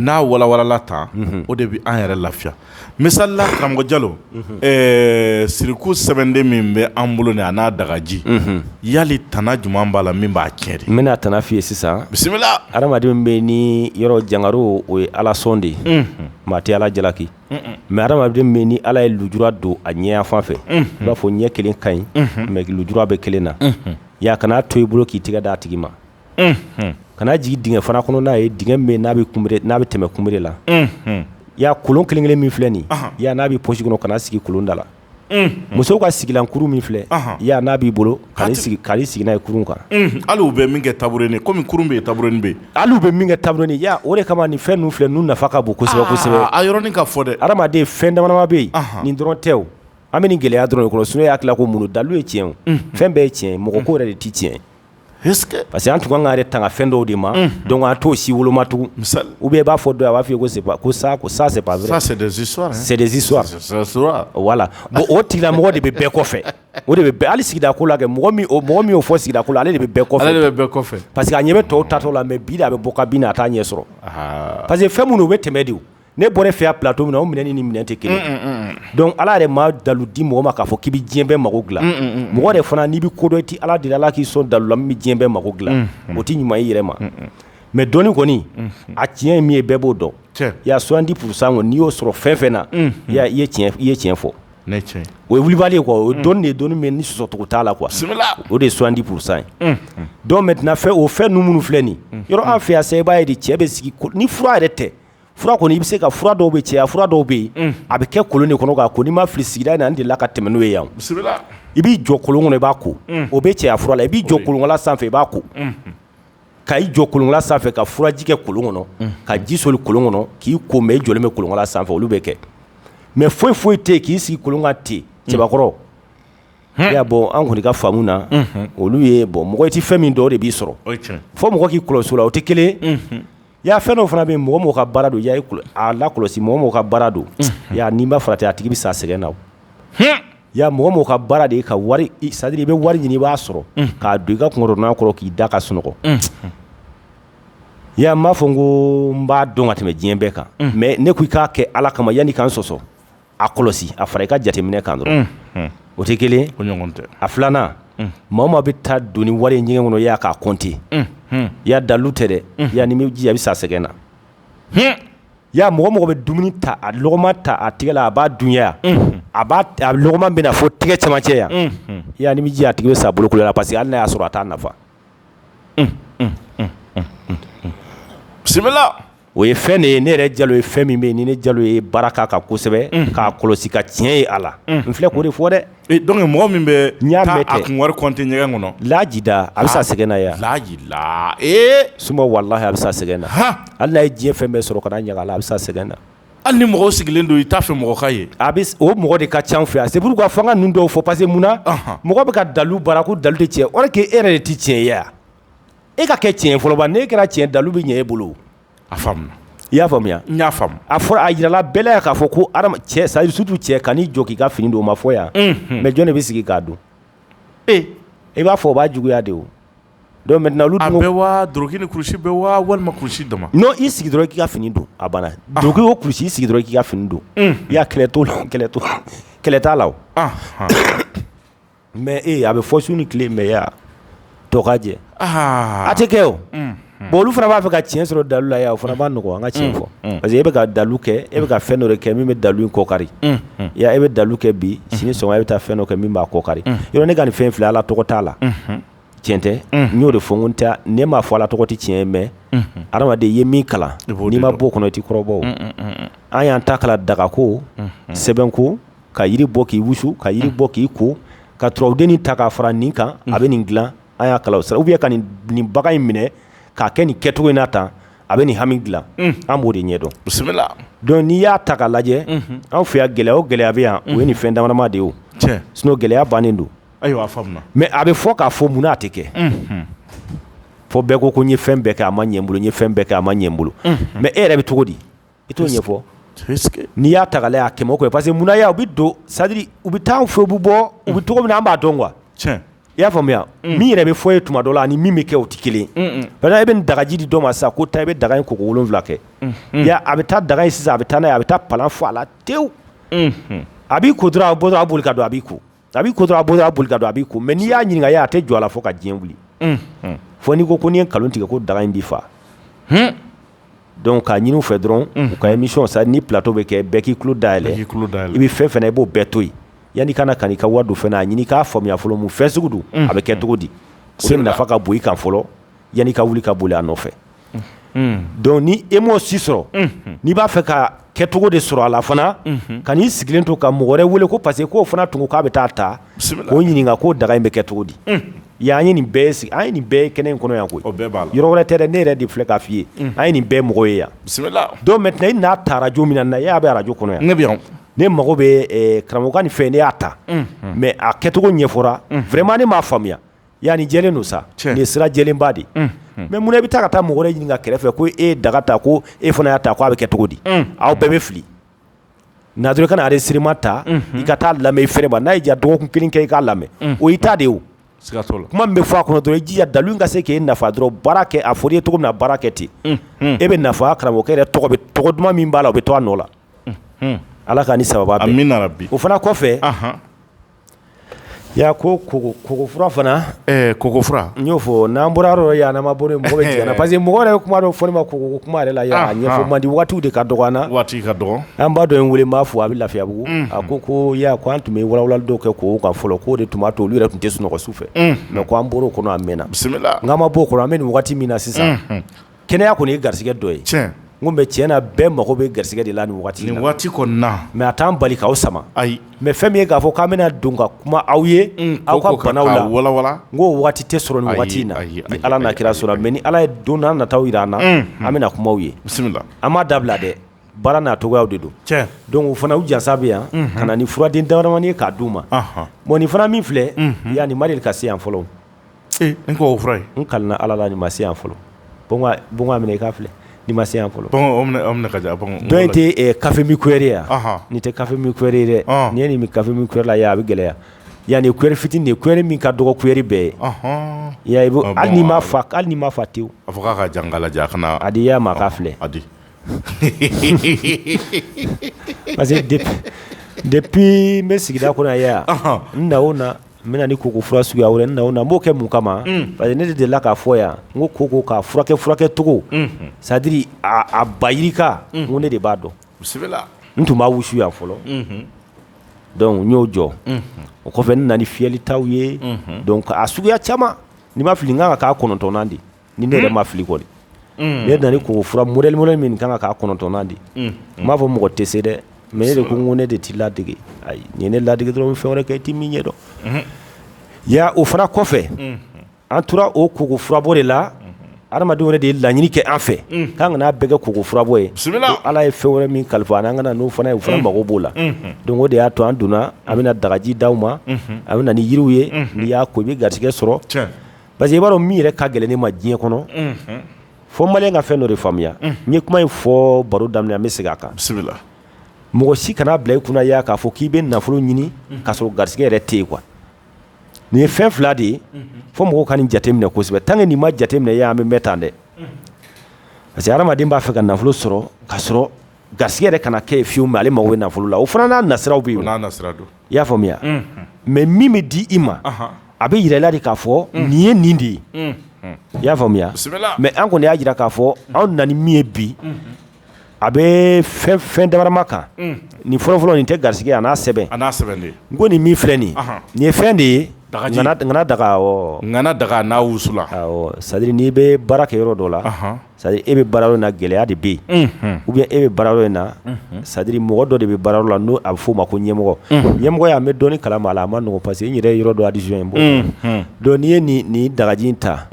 n'a walawalala tan o de bɛ an yɛrɛ lafiya misali la karamɔgɔ jalo siriku sɛbɛnden min bɛ an bolo a n'a dagaji ya tana jumɛn b'a la min b'a tiɲɛ n bɛna tana f'i ye sisan bisimila adamadenw bɛ ni yɔrɔ jankaro o ye ala sɔn de ye maa tɛ ala jalaki mɛ adamaden bɛ ni ala ye lujura don a ɲɛ fan fɛ i b'a fɔ ɲɛ kelen ka ɲi mɛ lujura bɛ kelen na ya kan'a to i bolo k'i tɛgɛ d' a tigi ma kana jigin dingɛ fana kɔnɔ n'a ye dingɛ min n'a n'a bɛ tɛmɛ kunbere la y'a kɔlɔn kelen kelen min filɛ nin yan n'a bɛ posi kɔnɔ kana sigi kɔlɔnda la musow ka sigilankurun min filɛ yan n'a b'i bolo ka sigi ka sigi ye kurun kan hali bɛ min kɛ tabure ye kɔmi bɛ ye tabure bɛ hali bɛ min kɛ tabure ni o de kama nin fɛn filɛ n'u nafa ka bon sɛbɛsɛbɛ a yɔrɔ in ka fɔ dɛ hadamaden fɛn dama bɛ yen nin dɔrɔn tɛ an bɛ nin gɛlɛya dɔrɔn kɔnɔ sun y'a tila ko mun dalilu ye tiɲɛ fɛn bɛɛ ye tiɲɛ mɔgɔ ko yɛrɛ de tɛ tiɲɛ parce que an tun kan k'an yɛrɛ tanga fɛn dɔw de ma donc an t'o si woloma tugun ou bien i b'a fɔ dɔ ye a b'a fɔ ko c'est pas ko ça ko ça c'est pas vrai ça c'est des histoires c'est des histoires voilà bon o tigila mɔgɔ de bɛ bɛɛ kɔfɛ o de bɛ bɛɛ hali sigida ko la kɛ mɔgɔ min o mɔgɔ min y'o fɔ sigida ko la ale de bɛ bɛɛ kɔfɛ ale de bɛ bɛɛ kɔfɛ parce que a ɲɛ bɛ tɔw taatɔ la mais bi de a bɛ bɔ ka bɛ na a t'a ɲɛ sɔrɔ parce que fɛn minnu u bɛ tɛmɛ de o ne bɔra fɛya bila don min o minɛ ni ni minɛn tɛ kelen donc ala yɛrɛ ma dalilu di mɔgɔ ma k'a fɔ k'i bɛ diɲɛ bɛɛ mako dilan mɔgɔ de fana n'i bɛ kodɔn tɛ ala de ala k'i sɔn dalilu bɛ diɲɛ bɛɛ mako dilan o tɛ ɲuman i yɛrɛ ma mais dɔn kɔni a tiɲɛ ye min ye bɛɛ b'o dɔn ya soixante-dix pour cent kɔnɔ n'i y'o sɔrɔ fɛn fɛn na i ye tiɲɛ fɔ o ye wulilubali kɔ o dɔn de ye dɔnni min ni sɔsɔcogo t'a la quoi o de ye soixante-dix pour cent ye dɔw bɛ tɛna fɛ o fɛn ninnu minnu filɛ nin yɔrɔ an fɛya se b'a ye de cɛ bɛ sigi ni fura yɛrɛ tɛ fura kɔni i bɛ se ka fura dɔw bɛ cɛya fura dɔw bɛ yen a bɛ kɛ kolon de kɔnɔ ko n'i ma fili sigira n' de la ka tɛmɛ n'o ye yan i b'i jɔ kolon kɔnɔ i b'a ko o bɛ cɛ fura la i b'i jɔ kolon da sanfɛ i b'a ko ka i jɔ kolon da sanfɛ ka furaji kɛ kolon kɔnɔ ka ji soli kolon kɔnɔ k'i ko mais i jɔlen bɛ kolon da sanfɛ olu bɛ kɛ mais foyi foyi tɛ k'i sigi kolon kan ten cɛbakɔrɔ y'a bɔ an kɔni ka faamu na olu ye bɔ mɔgɔ tɛ fɛn min dɔ de b'i sɔrɔ fo mɔgɔ k'i kɔlɔsi la o tɛ kelen Y'a fɛn dɔ fana bɛ mɔgɔ mɔgɔ ka baara don ya a lakɔlɔsi mɔgɔ mɔgɔ ka baara don n'i ma farati a tigi bɛ sa sɛgɛn na ya mɔgɔ mɔgɔ ka baara de ye ka wari c'est à dire i bɛ wari ɲini i b'a sɔrɔ k'a don i ka kunkɔrɔnan kɔrɔ k'i da ka sunɔgɔ ya n m'a fɔ n ko n b'a dɔn ka tɛmɛ diɲɛ bɛɛ kan mais ne ko i k'a kɛ ala kama yanni i ka n sɔsɔ a kɔlɔsi a fara i ka jateminɛ kan dɔrɔn o tɛ kelen a filanan maa o maa bɛ taa don ni wari ɲɛgɛn kɔnɔ ya k'a compter ya dalilu tɛ dɛ yan ni ji a bɛ sa sɛgɛn na ya mɔgɔ mɔgɔ bɛ dumuni ta a logoma ta a tɛgɛ la a b'a dun ya a logoma bɛ na fo tɛgɛ camancɛ yan yanani ji a tigi bɛ sa bolokolonya la parce que hali n' y'a sɔrɔ a t'a nafa bisimila o ye fɛn de ye ne yɛrɛ jalo ye fɛn min bɛ ni ne jalo ye baara kan ka kosɛbɛ k'a kɔlɔsi ka tiɲɛ ye a la n filɛ k'o de fɔ dɛ donc mɔgɔ min bɛ n y'a mɛn a kun compter ɲɛgɛn kɔnɔ lajida a bɛ sa sɛgɛn na yan laji la ee suma walahi a bɛ sa sɛgɛn na hali n'a ye diɲɛ fɛn bɛɛ sɔrɔ ka ɲaga a bɛ sa sɛgɛn na hali ni mɔgɔ sigilen don i t'a fɛ mɔgɔ ka ye a bɛ o mɔgɔ de ka ca anw fɛ yan c'est pourquoi fo an ka ninnu dɔw fɔ parce que munna mɔgɔ bɛ ka dalilu baara ko dalilu tɛ tiɲɛ ye alors que e yɛrɛ de tɛ tiɲɛ ye wa e ka kɛ tiɲɛ ye fɔlɔ bani n'e kɛra tiɲɛ ye dalilu bɛ ɲɛ e bolo o a faamuna i y'a faamuya n y'a faamu a fɔra a jirala bɛɛ la yan k'a fɔ ko hadama cɛ c'est à dire surtout cɛ kan'i jɔ k'i ka fini don o ma fɔ yan mais jɔn de bɛ sigi k'a don e i b'a fɔ o b'a juguya de o Donc maintenant olu dun bɛ waa dloki ni kulusi bɛ waa walima kulusi dɔ ma n'i y'i sigi dɔrɔn k'i ka fini don a banna dugu o kulusi sigi dɔrɔn k'i ka fini don i y'a kɛlɛ to la kɛlɛ to kɛlɛ t'a la mɛ ee a bɛ fɔ sun ni tile mɛya dɔgɔ jɛ a tɛ kɛ o bon olu fana b'a fɛ ka tiɲɛ sɔrɔ dalu la o fana b'a nɔgɔ an ka tiɲɛ fɔ parce que e bɛ ka dalu kɛ e bɛ ka fɛn dɔ kɛ min bɛ dalu kɔkari e bɛ dalu kɛ bi sini sɔn e bɛ taa fɛn dɔ kɛ min b'a kɔkari ne ka nin fɛn fila ala tɔgɔ t'a la tiɲɛ tɛ n y'o de fɔ n tɛ ne m'a fɔ ala tɔgɔ tɛ tiɲɛ mɛ adamaden ye min kalan n'i ma bɔ kɔnɔ t'i kɔrɔbɔ an y'an ta kalan dagako sɛbɛn ko ka jiri bɔ k'i wusu ka jiri bɔ k'i ko ka tden ta k'a fara nin kan a bɛ nin dila an y'a kalan sa u bɛ ka nin nin bagan in minɛ k'a kɛ nin kɛcogo in na tan a bɛ nin hami dilan an b'o de ɲɛdɔn bisimila donc n'i y'a ta ka lajɛ an fɛ yan gɛlɛya o gɛlɛya bɛ yan o ye nin fɛn damadama de ye sinon gɛlɛya bannen don Ayiwa mɛ a bɛ fɔ k'a fɔ munna a tɛ kɛ fɔ bɛɛ ko ko n ye fɛn bɛɛ kɛ a ma ɲɛ n bolo n ye fɛn bɛɛ kɛ a ma ɲɛ n bolo mɛ e yɛrɛ bɛ cogo di i t'o ɲɛfɔ n'i y'a ta y'a kɛ kɛ parce que munna y' u bɛ don sari u bɛ taa fo bɛ bɔ u bɛ cogo min an b'a dɔn i y'a faamuya min yɛrɛ bɛ fɔ ye tuma dɔ la ani min bɛ kɛ o tɛ kelen i bɛ dagaji di dɔ ma sa ko ta i bɛ daga in ko wolonwula kɛ a bɛ taa daga sisan a bɛ taa a bɛ taa pan fɔ a la tewu a b'i ko a bɔ a boli ka don a b'i ko A b'i ko dɔrɔn a bolo y'a boli ka don a b'i ko mɛ n'i y'a ɲininka a ye a tɛ jɔ a la fo ka diɲɛ wuli fo n'i ko ko n'i ye nkalon tigɛ ko daga in b'i faa dɔnku k'a ɲinin fɛ dɔrɔn ka émission ni plateau bɛ kɛ bɛɛ k'i tulo da yɛlɛ i bɛ fɛn o fɛn na i b'o bɛɛ to yen yanni ka na ka n'i ka wari don fɛn na a ɲini k'a faamuya fɔlɔ mun fɛn sugu don a bɛ kɛ cogo di se nafa ka bɔ i kan fɔlɔ yanni ka wuli ka boli a nɔfɛ dɔnku ni e m'o si sɔrɔ n'i b'a fɛ ka kɛcogo de sɔrɔ a la fana kan'i sigilen to ka mɔgɔ wɛrɛ weele ko parce que k'o fana tun k'a bɛ taa ta k'o ɲininka k'o daga in bɛ kɛ cogo di an ye nin bɛɛ sigi an ye nin bɛɛ kɛ nin kɔnɔ yan ko yɔrɔ wɛrɛ tɛ ne yɛrɛ de filɛ k'a fɔ i ye an ye nin bɛɛ mɔgɔ ye yan donc maintenant i n'a ta arajo min na e y'a bɛ arajo kɔnɔ yan ne bɛ yan ne mago bɛ karamɔgɔ ka nin fɛn ne y'a ta mɛ a kɛcogo ɲɛfɔra vraiment ne m'a faamuya Yan ni jɛlen don sa nin sira jɛlenba de mɛ munna e bɛ taa ka taa mɔgɔ ɲininka kɛrɛfɛ ko e daga ta ko e fana y'a ta ko a bɛ kɛ cogo di aw bɛɛ bɛ fili nadu kana nare sirama ta i ka taa lamɛn fɛ ma n'a ja dɔgɔkun kelen kɛ i k'a lamɛn o i ta de kuma bɛ fɔ a kɔnɔ dɔrɔn i ji dalu ka se k'i nafa dɔrɔn baara kɛ a fɔlen i ye cogo min na baara kɛ ten e bɛ nafa karamɔgɔkɛ tɔgɔ duman min b'a la o bɛ to a nɔ la ala ka ni saba o fana kɔfɛ Yaya ko koko fura fana koko fura n y'o fɔ n'an bɔra yɔrɔ yananama bolo mɔgɔ parce que mɔgɔ yɛrɛ bɛ kuma dɔw fɔ n ma ko kuma yɛrɛ la ɲɛfɔ mandi waati de ka dɔgɔn waati ka dɔgɔn an ba dɔ ye n weele b'a fɔ a bɛ lafiyabugu a ko ko Yaya ko an tun bɛ walawalali dɔw kɛ koko kan fɔlɔ k'o de tun b'a to olu yɛrɛ tun tɛ sunɔgɔ su fɛ mɛ k'an bɔra o kɔnɔ a mɛnna bisimila an ma bɔ o kɔnɔ an bɛ nin waati min na sisan kɛnɛya kɔni ye garisɛgɛ dɔ ye ko bɛɛ tiɲɛ na bɛɛ mago bɛ garisɛgɛ de la nin waati waati mɛ a t'an bali k'aw sama ayi mɛ fɛn min ye k'a fɔ k'an bɛna don ka kuma aw ye aw ka bana walawala n ko waati tɛ sɔrɔ nin waati in na ala n'a kira sɔnna mɛ ni ala ye don nataw jira an na an bɛna kuma aw ye bisimila an m'a dabila dɛ baara n'a cogoyaw de don cɛ donc o fana u jansa bɛɛ ye an ka na ni furaden damadamani ye k'a di u ma bon nin fana min filɛ yanni Mari ka se yan fɔlɔ Ee koko fura n ka ala la ni ma se yan fɔlɔ minɛ i k'a filɛ ni ma se yan fɔlɔ nin tɛ kafe min kuyɛri ye nin tɛ kafe min kuyɛri ye dɛ nin ye nin bɛ kafe min kuyɛri ye a bɛ gɛlɛya yan ni kuyɛri fitini de kuyɛri min ka dɔgɔ kuyɛri bɛɛ ye Yaya hali n'a ma fa hali n'a ma fa te a fɔ k'a ka jan ka a di Yaya ma k'a filɛ a di parce que depuis n bɛ sigida kɔnɔ yan n na o na N bɛ na ni koko fura suguya wɛrɛ na na n b'o kɛ mun kama parce que ne de delila k'a fɔ Yaya n ko koko k'a furakɛ furakɛcogo sadiri a ba yirika ko ne de b'a dɔn n tun b'a wusu yan fɔlɔ donc n y'o jɔ o kɔfɛ ne nana ni fiyɛli ta ye donc a suguya caman ni n ma fili nin ka kan ka k'a kɔnɔntɔnnan de ni ne yɛrɛ ma fili kɔni ne ye koko fura m m min ka kan ka k'a kɔnɔntɔnnan de n b'a fɔ mɔgɔ tɛ se dɛ mɛ ne de ko ko ne de t'i ladege ayi n'i ye ne ladege dɔrɔn n bɛ fɛn wɛrɛ kɛ i tɛ min ɲɛ dɔn Yaya o fana kɔfɛ an tora o koko furabɔ de la hadamadenw yɛrɛ de ye laɲini kɛ an fɛ k'an kana a bɛɛ kɛ koko furabɔ ye ala ye fɛn wɛrɛ min kalifa an ka na n'o fana ye bɛɛ mago b'o la donc o de y'a to an donna an bɛna dagaji di aw ma a bɛ na yiriw ye n'i y'a ko i bɛ garijɛgɛ sɔrɔ Parce que i b'a dɔn min yɛrɛ ka gɛlɛn ne ma diɲɛ kɔnɔ, unhun, fo maliyɛnw ka fɛn dɔ de faamuya, unhun, n ye kuma in fɔ baro daminɛ na n bɛ segin a kan, bisimila, mɔgɔ si kana a bila i kunna Yaya k'a fɔ k'i bɛ nafolo ɲini k'a sɔrɔ garisɛgɛ yɛrɛ tɛ yen quoi nin ye fɛn fila de ye fo mɔgɔw ka nin jateminɛ kosɛbɛ tant que nin ma jateminɛ Yaya an bɛ mɛn tan dɛ parce que hadamaden b'a fɛ ka nafolo sɔrɔ k'a sɔrɔ garisɛgɛ yɛrɛ kana kɛ yen fiyewu ale mako bɛ nafolo la o fana n'a nasiraw bɛ yen i y'a faamuya mɛ min bɛ di i ma a bɛ jirala de k'a fɔ nin ye nin de ye i y'a faamuya mɛ an kɔni y'a jira k'a fɔ an nana ni min ye bi a bɛ fɛn damadama kan nin fɔlɔfɔlɔ nin tɛ garisɛgɛ a n'a sɛbɛn a sɛbɛn ko nin min filɛ nin nin ye fɛn de ye daga daga daga n'a wusulan sadiri n'i bɛ baara kɛ yɔrɔ dɔ la c'est à dire i bɛ baarayɔrɔ na gɛlɛya de bɛ yen ou bien e bɛ baarayɔrɔ in na c'est à dire mɔgɔ dɔ de bɛ baarayɔrɔ la n'o a bɛ f'o ma ko ɲɛmɔgɔ ɲɛmɔgɔ y'a mɛ dɔni kala maa la a man nɔgɔn parce que n yɛrɛ yɔrɔ don a disi in bɔ donc n'i ye nin dagaji in ta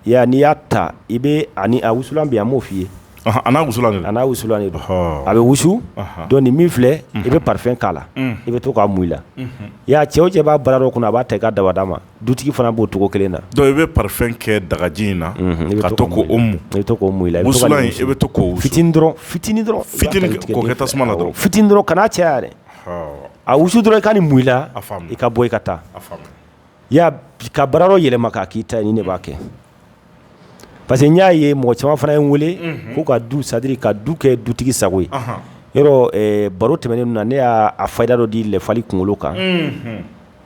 yan n'i y'a ta i bɛ ani a wusulan bi a b'o f'i ye a n'a wusulan don a bɛ wusu donc nin min filɛ i bɛ parfum k'a la i bɛ to k'a mun i la i y'a cɛ o cɛ b'a baarayɔrɔ kunna a b'a ta i ka dabada ma dutigi fana b'o cogo kelen na donc i bɛ parfum kɛ dagaji in na ka to k'o mun i la i bɛ to ka fitinin dɔrɔn fitinin dɔrɔn fitinin kɛ tasuma na dɔrɔn fitin dɔrɔn kana caya dɛ a wusu dɔrɔn i ka nin mun i la i ka bɔ i ka taa i y'a ka baara yɛlɛma k'a k'i ta ye nin de b'a kɛ parce que n y'a ye mɔgɔ caman fana ye n weele k'u ka du c'est à dire ka du kɛ dutigi sago ye yɔrɔ baro tɛmɛnen na ne y'a fayida dɔ di lɛfali kunkolo kan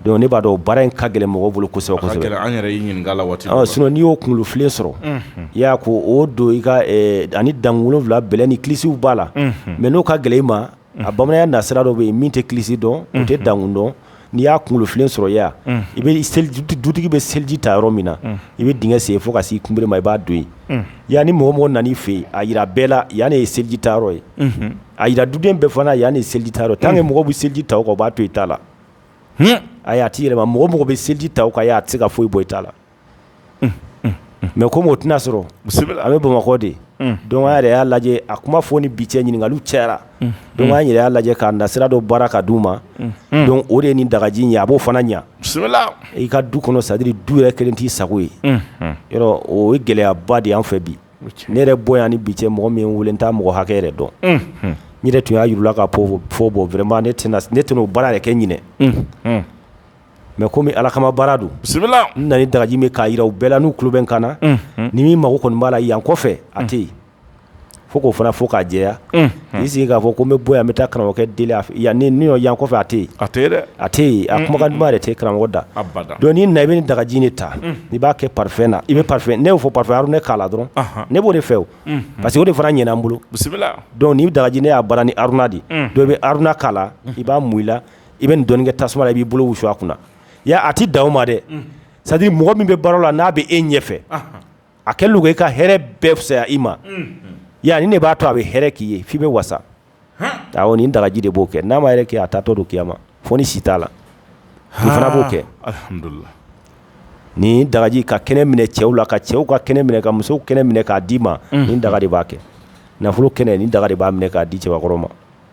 donc ne b'a dɔn baara in ka gɛlɛn mɔgɔ bolo kosɛbɛ n'i y'o kunkolofilen sɔrɔ i y'a ko o don i ani dankolofilaɛ ni kisiw b'a la mais n'o ka gɛlɛn ma a bamanan na sira dɔ bɛ yen min tɛ kisi dɔn n tɛ dankun n'i y'a kunkolofilen sɔrɔ yan i bɛ dutigi bɛ seliji ta yɔrɔ min na i bɛ dingɛ sen fo ka se i kunbere ma i b'a don yen yan ni mɔgɔ o mɔgɔ nana fɛ yen a jira bɛɛ la yanani ye seliji ta ye a jira duden bɛɛ fana yan ni seliji ta tan ni mɔgɔ bɛ seliji ta o b'a to i t'a la a' tɛ yɛlɛma mɔgɔ o mɔgɔ bɛ seliji ta o kan yan a tɛ se ka foyi bɔ i ta la mais comme o tɛna sɔrɔ an bɛ bamakɔ de donc an yɛrɛ y'a lajɛ a kuma fɔ ni bi cɛ ɲininkaliw cayara donc an yɛrɛ y'a lajɛ k'a na sira dɔ baara ka d'u ma donc o de ye nin dagaji ye a b'o fana ɲɛ i ka du kɔnɔ c'est à dire du yɛrɛ kɛlen t'i sago ye yɔrɔ o ye gɛlɛyaba de an fɛ bi ne yɛrɛ bɔ yan ni bi cɛ mɔgɔ min weele n t'a mɔgɔ hakɛ yɛrɛ dɔn n yɛrɛ tun y'a jurula ka fɔ bon vraiment ne tɛna o baara yɛrɛ kɛ ɲinɛn mais comme ala kama baara don bisimila n na ni dagaji min k'a jira u bɛɛ la n'u kubɛn ka na ni min mako kɔni b'a la yan kɔfɛ a tɛ yen fo k'o fana fɔ k'a jɛya k'i sigi k'a fɔ ko n bɛ bɔ yan n bɛ taa karamɔgɔkɛ deli a fɛ yan ni ne yan kɔfɛ a tɛ yen, a tɛ yen dɛ, a tɛ yen a kumakan duman yɛrɛ tɛ yen karamɔgɔ da, abada, donc n'i nana i bɛ nin dagaji in de ta i b'a kɛ parfum na i bɛ parfum ne y'o fɔ parfum Haruna k'a la dɔrɔn ne b'o de fɛ o parce que o de fana ɲɛna n bolo, bisimila, donc nin dagaji ne y'a baara ni Haruna de ye donc i bɛ Haruna k'a la i b'a mun i la i bɛ nin dɔɔnin kɛ tasuma la i b'i bolo wusu a kunna i y'a ye a tɛ dan o ma dɛ c'est à dire mɔgɔ min bɛ baara la n'a bɛ e ɲɛfɛ a kɛ e ka hɛrɛ bɛɛ fisaya i ma yan nin de b'a to a bɛ hɛrɛ k'i ye fo i bɛ wasa nin dagaji de b'o kɛ n'a ma yɛrɛ kɛ a taatɔ don kiyama fo ni si t'a la fana b'o kɛ nin dagaji ka kɛnɛ minɛ cɛw la ka cɛw ka kɛnɛ minɛ ka muso kɛnɛ minɛ k'a d'i ma nin daga de b'a kɛ nafolo kɛnɛ nin daga de b'a minɛ k'a di cɛbakɔrɔ ma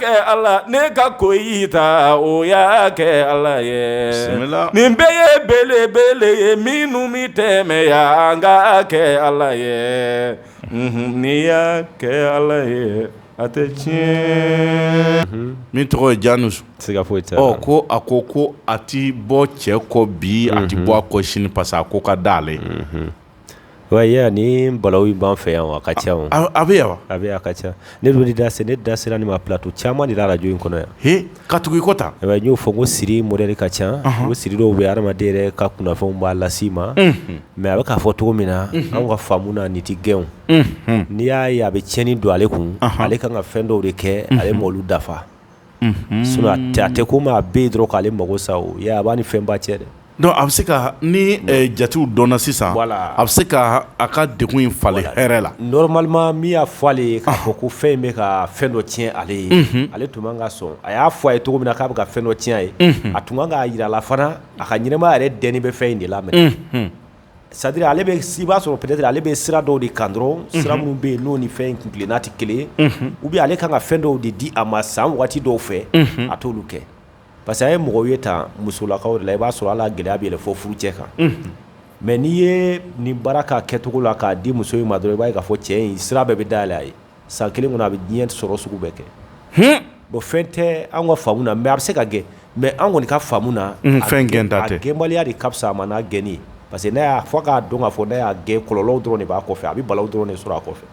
kɛ ala ne ka ko o y'a kɛ ala ye nin bɛɛ ye belebele ye minnu min tɛmɛ yan an ka kɛ ala ye n'i y'a kɛ ala ye a tɛ tiɲɛ min tɔgɔ ye jan se ka foyi ko a ko ko a tɛ bɔ cɛ kɔ bi a tɛ bɔ a kɔ sini parce que a ko ka d'ale ye ni balaw in b'an fɛ yan a ka ca a bɛ yan a bɛ ka ca ne da ne da sera nin ma plateau caman de la arajo in kɔnɔ yan ka tugu ikɔta y'o fɔ ko siri modɛli ka ca o siri dɔw bɛ hadamaden ka kunnafɛnw b'a lase i ma mɛ a bɛ k'a fɔ cogo min na an ka faamu na ni tɛ gɛn n'i y'a ye a bɛ tiɲɛni don ale kun ale ka kan ka fɛn dɔw de kɛ ale m'olu dafa tɛ ko maa bɛ dɔrɔn k'ale mako sa a b'a ni fɛn ba cɛ dɛ a bɛ se ka nin jatew dɔn sisan a bɛ se ka a ka de in fa hɛrɛ la normalement min y'a fɔ ale ye k'a fɔ ko fɛn bɛ ka fɛn dɔ tiɲɛ ale ye ale tun man kan ka sɔn a y'a fɔ a ye cogo min na k'a bɛ ka fɛn dɔ tiɲɛ a ye a tun ka kan k'a jira a la fana a ka ɲɛnamaya yɛrɛ dɛnnen bɛ fɛn in de la c'est-à-dire ale bɛ i b'a sɔrɔ peut-être ale bɛ sira dɔw de kan dɔrɔn sira minnu bɛ yen n'o ni fɛn in kuntilenna tɛ kelen u bɛ ale ka kan ka fɛn dɔw de di a ma san waati dɔw fɛ a t'olu kɛ parce que an ye mɔgɔw ye ta musolakaw de la i b'a sɔrɔ a la gɛlɛya bɛ yɛlɛ fo furucɛ kan mɛ n'i ye nin baara k'a kɛcogo la k'a di muso in ma dɔrɔn i b'a ye k'a fɔ cɛ in sira bɛɛ bɛ dayɛlɛ a ye san kelen kɔnɔ a bɛ diɲɛ sɔrɔ sugu bɛɛ kɛ bɔn fɛn tɛ an ka faamu na mɛ a bɛ se ka gɛn mɛ an kɔni ka faamu na fɛn gɛn da tɛ gɛnbaliya de ka fisa a ma n'a gɛn ye parce que ne y'a fɔ k'a dɔn k'a fɔ n'i y'a gɛn kɔlɔn dɔrɔn de b'a kɔfɛ a bɛ bala dɔrɔn de sɔrɔ a kɔfɛ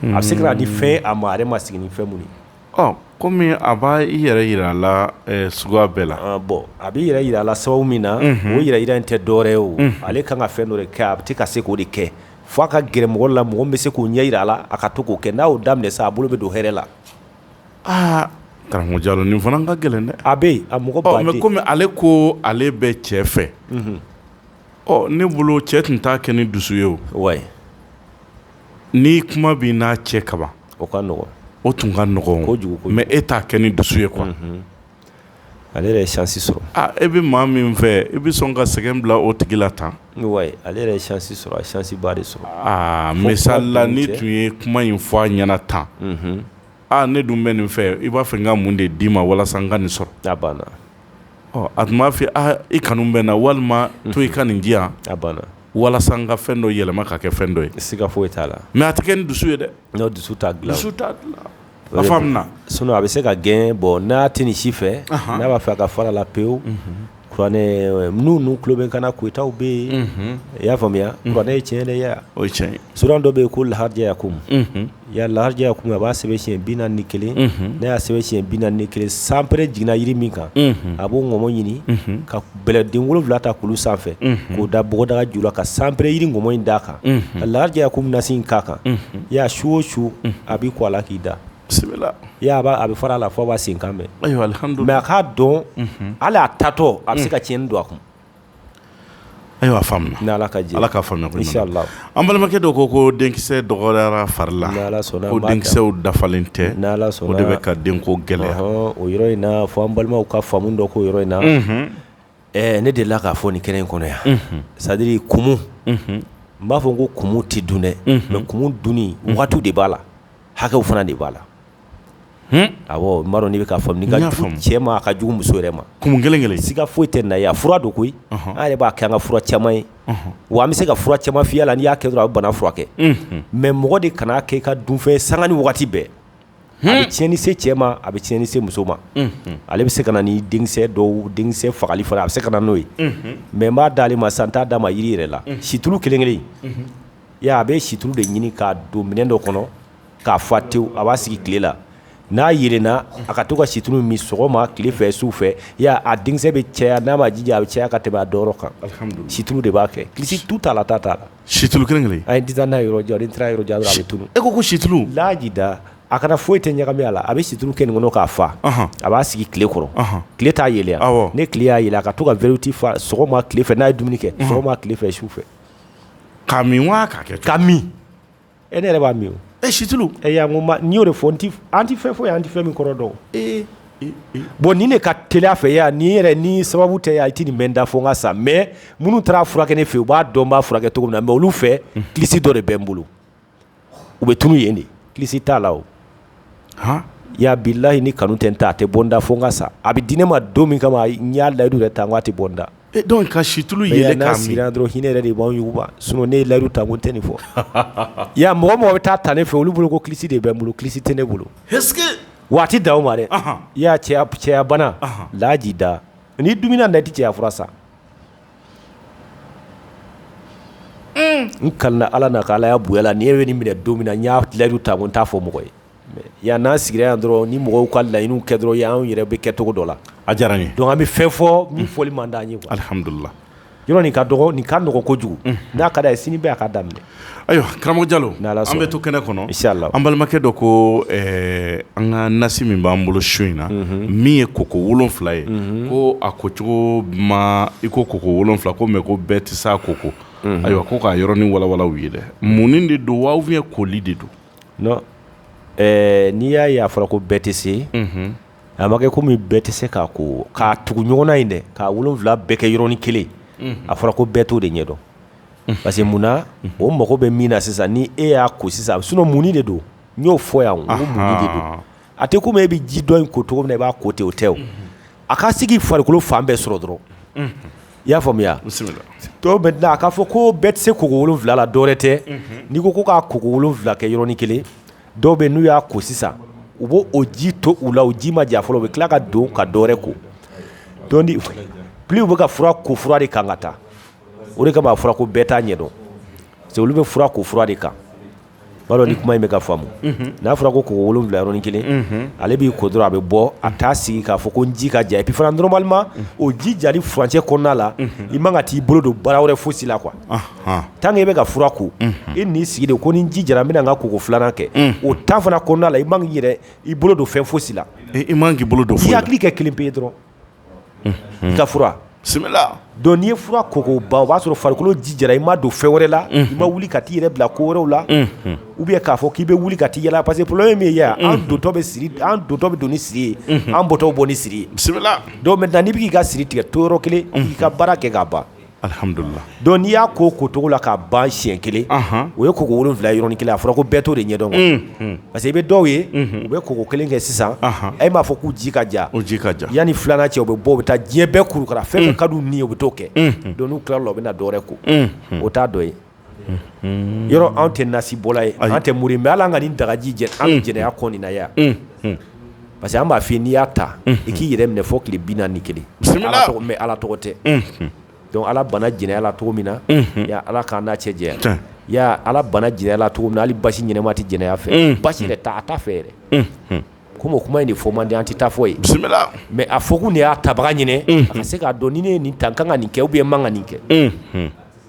a bɛ se ka di fɛn a ma ma sigi ni fɛn minnu ye kɔmi a b'i yɛrɛ jira a la sugu bɛɛ la bɔn a b'i yɛrɛ jira a la sababu min na o yɛrɛ jira in tɛ dɔwɛrɛ ye o ale ka kan ka fɛn dɔ de kɛ a tɛ ka se k'o de kɛ Fo a ka gɛrɛmɔgɔ la mɔgɔ bɛ se k'o ɲɛ jira a la a ka to k'o kɛ n'a y'o daminɛ sa a bolo bɛ don hɛrɛ la aa karamɔgɔ jalo nin fana ka gɛlɛn dɛ a bɛ a mɔgɔ bɛ kɔmi ale ko ale bɛ cɛ fɛ ɔ ne bolo cɛ tun t'a kɛ ni dusu ye o wa ni kuma bɛ n'a cɛ kaban o ka o tun ka nɔgɔ kojugu mɛ e t'a kɛ ni dusu ye quoi Ale yɛrɛ ye chance sɔrɔ aa e bɛ maa min fɛ i bɛ sɔn ka sɛgɛn bila o tigi la tan wayi ale yɛrɛ ye chance sɔrɔ a ye chance ba de sɔrɔ aa misali la n'i tun ye kuma in fɔ a ɲɛna tan unhun aa ne dun bɛ nin fɛ i b'a fɛ n ka mun de d'i ma walasa n ka nin sɔrɔ a banna ɔ a tun b'a f'i ye aa i kanu bɛ n na walima to i ka nin di yan a banna walasa n ka fɛn dɔ yɛlɛma ka kɛ fɛn dɔ ye siga foyi t'a la mais a tɛ kɛ ni dusu ye dɛ non dusu t'a dilan dusu t'a dilan sun a bɛ se ka gɛn bɔ n' tɛ ni si fɛ n'a b'a fɛ a ka fara a la pewu n'u tulo bɛ kana kotaw bɛ yen i y'a faamuya ye tiɲɛ o cɛn sura dɔ bɛ yen ko lahajɛya ko ya lajɛya kun a b'a sɛbɛn siɲɛ bi naani ni kelen n'a y'a sɛbɛn siɲɛ bi naani ni kelen sanpɛrɛn jiginna jiri min kan a b'o ŋɔmɔ ɲini ka bɛlɛden wolonwula ta kulu sanfɛ k'o da bɔgɔdaga ju la ka sanpɛrɛn jiri ŋɔmɔ in d'a kan ka lajɛya ko nasi in k'a kan i y'a ye su o su a b'i ko a la k'i da bisimila a bɛ fara a la fo a b'a senkan mɛ a k'a dɔn ala y'a tatɔ a bɛ se ka tiɲɛni don a kun ayiwa ala ka ala ka An balimakɛ dɔ ko ko denkisɛ dɔgɔyara fari la ko denkisɛw dafalen tɛ o de bɛ ka den ko gɛlɛya o yɔrɔ in fɔ an balimaw ka faamu dɔ ko yɔrɔ in na ɛ ne delila k'a fɔ nin kɛnɛ in kɔnɔ yan c'est-à-dire kumu n b'a fɔ ko kumu tɛ dun dɛ mɛ kumu dun wagati de b'a la hakɛw fana de b'a la a n' de bɛ ka cɛ ma a ka jugu muso yɛrɛ ma kumu kelen kelen si ka foyi tɛ na a fura don koyi ale b'a kɛ an ka fura caman ye wa an bɛ se ka fura caman fya la n y'a kɛ a bana furakɛ mɛ mɔgɔ de kana kɛ ka dunfɛn san ni waati bɛɛ a bɛ tiɲɛni se cɛ ma a bɛ tiɲɛni se muso ma ale bɛ se ka na ni denkisɛ dɔw denkisɛ fagali fana a bɛ se ka na n'o ye mɛ b'a dalenale ma san tan d'a ma jiri yɛrɛ la situlu kelen kelen I y'a ye a bɛ situlu de ɲini k'a don minɛn dɔ kɔnɔ k'a fa tewu a b'a sigi tile la n'a yeelenna a ka to ka situlu min sɔgɔma tile fɛ su fɛ i y'a ye a denkisɛ bɛ caya n'a m'a jija a bɛ caya ka tɛmɛ a danyɔrɔ kan alhamdulila situlu de b'a kɛ kilisi tu t'a la ta t'a la situlu kelen kelen an ye disa n'a ye yɔrɔ jan ni n taara yɔrɔ jan dɔrɔn a bɛ tunun e ko ko situlu laajida a kana foyi tɛ ɲagami a la a bɛ situlu kɛ nin kɔnɔ k'a fa ɔnhɔn a b'a sigi tile kɔrɔ ɔnhɔn tile t'a yeelen a awɔ ni tile y'a yeelen a ka to ka verre ti fa sɔgɔma tile fɛ n'a ye dumuni kɛ unhun sɔgɔma tile fɛ su fɛ Ka min wa ka kɛ ka min e ne yɛrɛ b'a min e situlu e y' ko n' y'o de fɔ n an tɛ fɛn fɔ yan an tɛ fɛn min kɔrɔ dɔn e bon ni ne ka tele fɛ yan ni yɛrɛ ni sababu tɛ i tɛ nin mɛn n da fo ka sa mɛ minnu taara furakɛ ne fɛ u b'a dɔn n b'a furakɛ cogo min na mɛ olu fɛ kilisi dɔ de bɛ n bolo u bɛ tunun yen de kilisi t'a la o h ya bilayi ni kanu tɛ n ta tɛ bɔ n da fo n ka sa a bɛ di ne ma don min kama n y'a layidu yɛrɛ ta n' t'a bɔ n da dɔn ka situlu ye n'a siri dɔrɔn hinɛ yɛrɛ de b'auguba s ne layidu ta ko n tɛ nin fɔ yan mɔgɔ mɔgɔ bɛ taa tan ne fɛ olu bolo ko kilisi de bɛ n bolo kilisi tɛ ne bolo waati da ma dɛ i y'a cɛya cɛbana laji da n'i dummina na tɛ cɛya fura sa n kalila ala na ala y'a bonya la n ye nin minɛ don min na n y'a layidu ta ko n t'a fɔ mɔgɔ ye yan n'an sigira yan dɔrɔn ni mɔgɔw ka laɲiniw kɛ dɔrɔn y anw yɛrɛ bɛ kɛ cogo dɔ la a diyara ye dɔn an bɛ fɛn fɔ min fɔli man d'a ye alihamdulila yɔrɔ nin ka nɔgɔn kojugu n'a ka d'a ye sini bɛɛ k'a daminɛ Ayiwa karamɔgɔ jalo an bɛ to kɛnɛ kɔnɔ an balimakɛ dɔ ko an ka nasi min b'an bolo su in na min ye koko wolonwula ye ko a ko cogo ma i ko koko wolonwula ko mɛ ko bɛɛ tɛ se a koko ayiwa ko k'a yɔrɔnin walawala u ye dɛ munni de don wa ye koli de don n'i y'a ye a fɔra ko bɛɛ tɛ se a ma kɛ kɔmi bɛɛ tɛ se k'a ko k'a tugu ɲɔgɔn na in dɛ k'a wolonwula bɛɛ kɛ yɔrɔnin kelen a fɔra ko bɛɛ t'o de ɲɛ dɔn parce que mun na o mago bɛ min na sisan ni e y'a ko sisan a munni de don n y'o fɔ yan mun a tɛ komi e bɛ ji dɔn in ko cogo min i b'a ko ten o tɛ o a ka se k'i farikolo fan bɛɛ sɔrɔ dɔrɔn i y'a faamuya dɔw bɛ a k'a fɔ ko bɛɛ tɛ se ko wolonwula la dɔwɛrɛ tɛ n'i ko ko k'a ko wolonwula kɛ yɔrɔnin kelen dɔw bɛ n'u y'a ko sisan u b' o ji to u la u ji ma ja fɔlɔ u bɛ tila ka don ka dɔwɛrɛ ko donc bɛ ka fura ko fura de kan ka taa o de kama a fɔra ko bɛɛ t'a ɲɛ dɔn cɛ olu bɛ fura ko fura de kan b'a dɔn ni kuma in bɛ ka faamu n'a fɔra ko ko wolonwula yɔrɔnin kelen ale b'i ko dɔrɔn a bɛ bɔ a taa sigi k'a fɔ ko n ji ka ja et puis fana normalement o ji jali furancɛ kɔnɔna la i man ka t'i bolo don baara wɛrɛ fosi la tant que i bɛ ka fura ko i n'i sigi de ko ni ji jara n bɛna n ka koko filanan kɛ o ta fana kɔnɔna la i man k'i yɛrɛ i bolo don fɛn fosi la i k'i bolo don hakili kɛ kelen pe ye dɔrɔn ye fura koko ban o b'a sɔrɔ farikolo ji jara i ma don fɛn wɛrɛ la i ma wuli ka t'i yɛrɛ bila ko wɛrɛw la u bɛ k'a fɔ k'i bɛ wuli ka taa yala parce que problème min ye yan an dontɔ bɛ don ni siri ye an bɔtɔ bɛ bɔ ni siri ye bisimila donc maintenant n'i bɛ k'i ka siri tigɛ to yɔrɔ kelen i k'i ka baara kɛ k'a ban Alihamdulila donc n'i y'a ko ko cogo la k'a ban siɲɛ kelen o ye koko wolonwula ye yɔrɔnin kelen a fɔra ko bɛɛ t'o de ɲɛ dɔn parce que i bɛ dɔw ye u bɛ koko kelen kɛ sisan e m'a fɔ k'u ji ka ja o ji ka ja yanni filanan cɛ u bɛ bɔ u bɛ taa diɲɛ bɛɛ kurukara fɛn ka nin ye u bɛ to kɛ donc n'u tilara o la u bɛ na dɔwɛrɛ ko o t'a dɔ ye yɔrɔ anw tɛ nasibɔla ye an tɛ muru bɛ ala ka nin dagaji jɛ an jɛnɛ kɔnɔna yan parce que an b'a fɔ n'i y'a ta i k'i yɛrɛ minɛ fɔ tile binaani ni kelen bɛ ala tɔgɔ tɛ donc ala bana jɛnɛya cogo min na ala k'an n'a cɛ jɛya ala bana jɛnɛya cogo min hali basi ɲɛnama tɛ jɛnɛya fɛ basi yɛrɛ taa a ta fɛ yɛrɛ ko o kuma in nin fɔ manden an tɛ taa fɔ ye bisimila mɛ a fɔ de y'a tabaga ɲini a se k'a dɔn ni ne ye nin ta n ka kan ka nin kɛ u bɛ ye man kan nin kɛ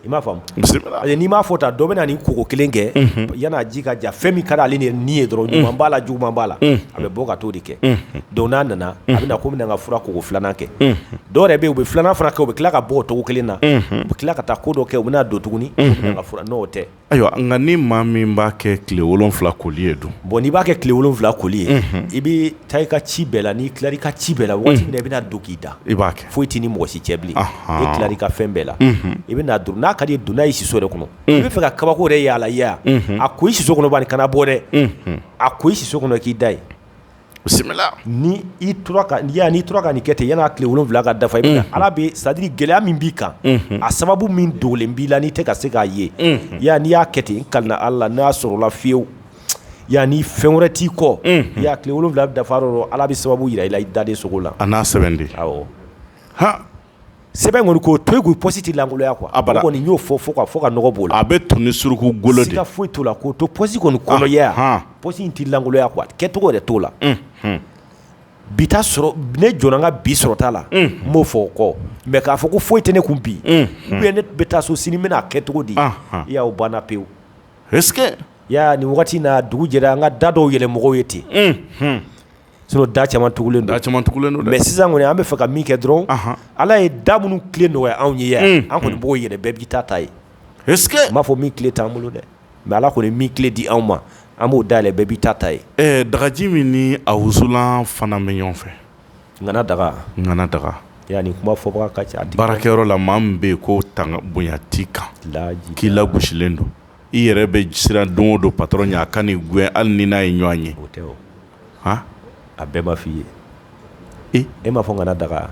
i m'a faamu bisimila ayi n'i m'a fɔ tan dɔ bɛ na ni koko 1 kɛ unhun yan'a ji ka ja fɛn min ka di ale ni ni ye dɔrɔn ɲuman b'a la juguman b'a la unhun a bɛ bɔ ka t'o de kɛ unhun donc n'a nana unhun a bɛna comme na ŋa fura koko 2 nan kɛ unhun dɔ yɛrɛ be ye u be 2 nan fana kɛ u be tila ka bɔ o togo 1 na unhun u be tila ka taa ko dɔ kɛ u ben'a don tuguni unhun ŋa fura non o tɛ ayiwa nka ni maa min b'a kɛ tile 7 koli ye dun bon n'i b'a kɛ tile 7 koli ye unhun i be taa i ka ci bɛɛ la n'i tilar'i ka ci bɛɛ la unhun wagati min na i bena don k'i da i b'a kɛ foyi t'i ni mɔgɔ si cɛ bilen i tila i ka fɛn bɛɛ la i bɛ n'a don n'a ka di donna i siso de kɔnɔ i bɛ fɛ ka kabako de yala yalaya a ko i siso kɔnɔbali kana bɔ dɛ a ko i siso kɔnɔ k'i da yen bisimila ni i n'i tora ka nin kɛ ten yani tile wolonwula ka dafa i ala bɛ sadiri gɛlɛya min b'i kan a sababu min dogolen b'i la n'i tɛ ka se k'a ye ya n'i y'a kɛ ten n kalila ala la n'a sɔrɔ la fewu Ya ni fɛn wɛrɛ t'i kɔ i y'a tile wolonwula dafa ala bɛ sababu jira i la i dalen sugo la a n'a sɛbɛn de h sɛbɛn kɔni ko to k'i pɔsi tɛ lankoloya kuwa a kɔni y'o fɔ fo fo ka nɔgɔ bolo la a bɛ to ni suruku golo ka foyi t'o la k'o to pɔsi kɔni kɔnɔ ya h pɔsi in tɛ lankoloya kuwa a kɛ tɔgɔ yɛrɛ t'o la bi sɔrɔ ne jɔ ka bi sɔrɔ t'a la n b'o fɔ o kɔ mɛ k'a fɔ ko foyi tɛ ne kun bi u ne bɛ taa so sini bɛna a kɛ cogo di ya o banna pewu ya ni waati n'a dugu jɛra an ka da dɔw yɛlɛ mɔgɔw ye ten sinon da caman tugulen da caman tugulen don mɛ sisan kɔni an bɛ fɛ ka min kɛ dɔrɔn ala ye da minnu kile nɔgɔya anw ye ya an kɔni b'o yɛlɛ bɛɛ b'i ta ta yen n b'a fɔ min kile t'an bolo dɛ mɛ ala kɔni min kile di anw ma an b'o da yɛlɛ bɛɛ b'i ta ta yen dagaji min ni a wusulan fana bɛ ɲɔgɔn fɛ nana daga nana daga ya nin kuma fɔ ka ca baarakɛyɔrɔ la maa min bɛ yen ko tan bonya t'i kan k'i lagosilen don i yɛrɛ bɛ siran don o don patɔrɔn ɲɛ a kana i gɛn hali ni n'a ye ɲɔgɔn ye o tɛ h a bɛɛ b'a f fɔ i ye e m'a fɔ n kana daga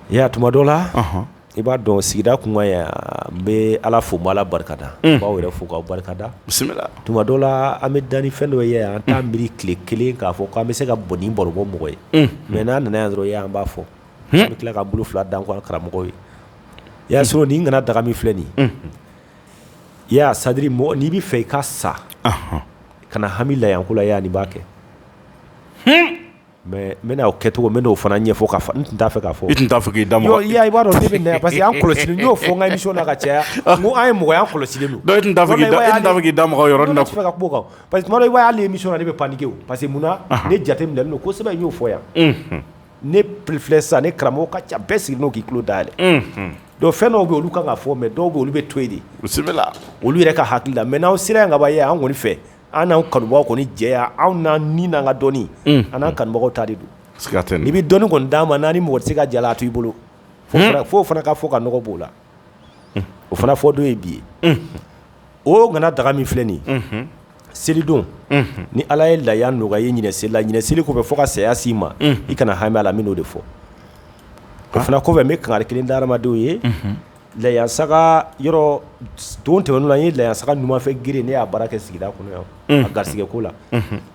i y'a tuma dɔ la I b'a dɔn sigida tun yan n bɛ ala fo' ala barika da b'aw yɛrɛ fo' barika da bisimila tuma dɔ la an bɛ dan ni fɛn dɔ ye an t'a miiri tile kelen k'a fɔ k'an bɛ se ka bon nin baro bɔ mɔgɔ ye mɛ n'a nana dɔrɔn ye an b'a fɔ an bɛ tila ka bolo fila da an karamɔgɔ ye y'a sɔrɔ n'i kana daga min filɛ nin i ya sadiri mɔgɔ n'i bɛ fɛ i ka sa ka hami la yan ko la y'a ni b'a kɛ Mɛ n bɛna' kɛcogo min n'o fana ɲɛfɔ ka n tun t'a fɛ ka fɔ tun t'a fɔ' da ma i b'a dɔn bɛ parce que y' kɔlɔsi y'o fɔ ka so la ka caya an ye mɔgɔya kɔlɔsi da k'i da yɔrɔ na fɛ ka bɔ kan parce que i y'aleli min sɔn de bɛ panke parce que munna ne jate min don ko sɛbɛn y'o fɔ yan ne pfi sa ni karamɔgɔ ka ca bɛɛ sigi n'o k'i tulo da dɛ don fɛn dɔw bɛ olu kan ka fɔ mɛ dɔw bɛ olu bɛ to yen de olu yɛrɛ ka hakili la mɛ n'aw sera ka ye an kɔni fɛ An n'an kanubaga kɔni jɛ anw na ni na ka dɔnni an n'an kanubagaw ta de don i bɛ dɔni kɔni d'a ma naani ni mɔgɔ se ka jala t' i bolo fo fana ka fɔ ka nɔgɔ b'o la o fana fɔ don ye bi ye o kana daga min filɛ nin selidon ni ala ye la nɔgɔya ye ɲ seli la ɲ seli tun bɛ fɔ ka saya si ma i kana hami la n'o de fɔ o fana kɔfɛ bɛ kanga kelen damadenw ye layasaga yɔrɔ don tɛmɛnenw la n ye layasaga numanfɛ gere ne y'a baara kɛ sigida kɔnɔ yan a garisɛgɛ ko la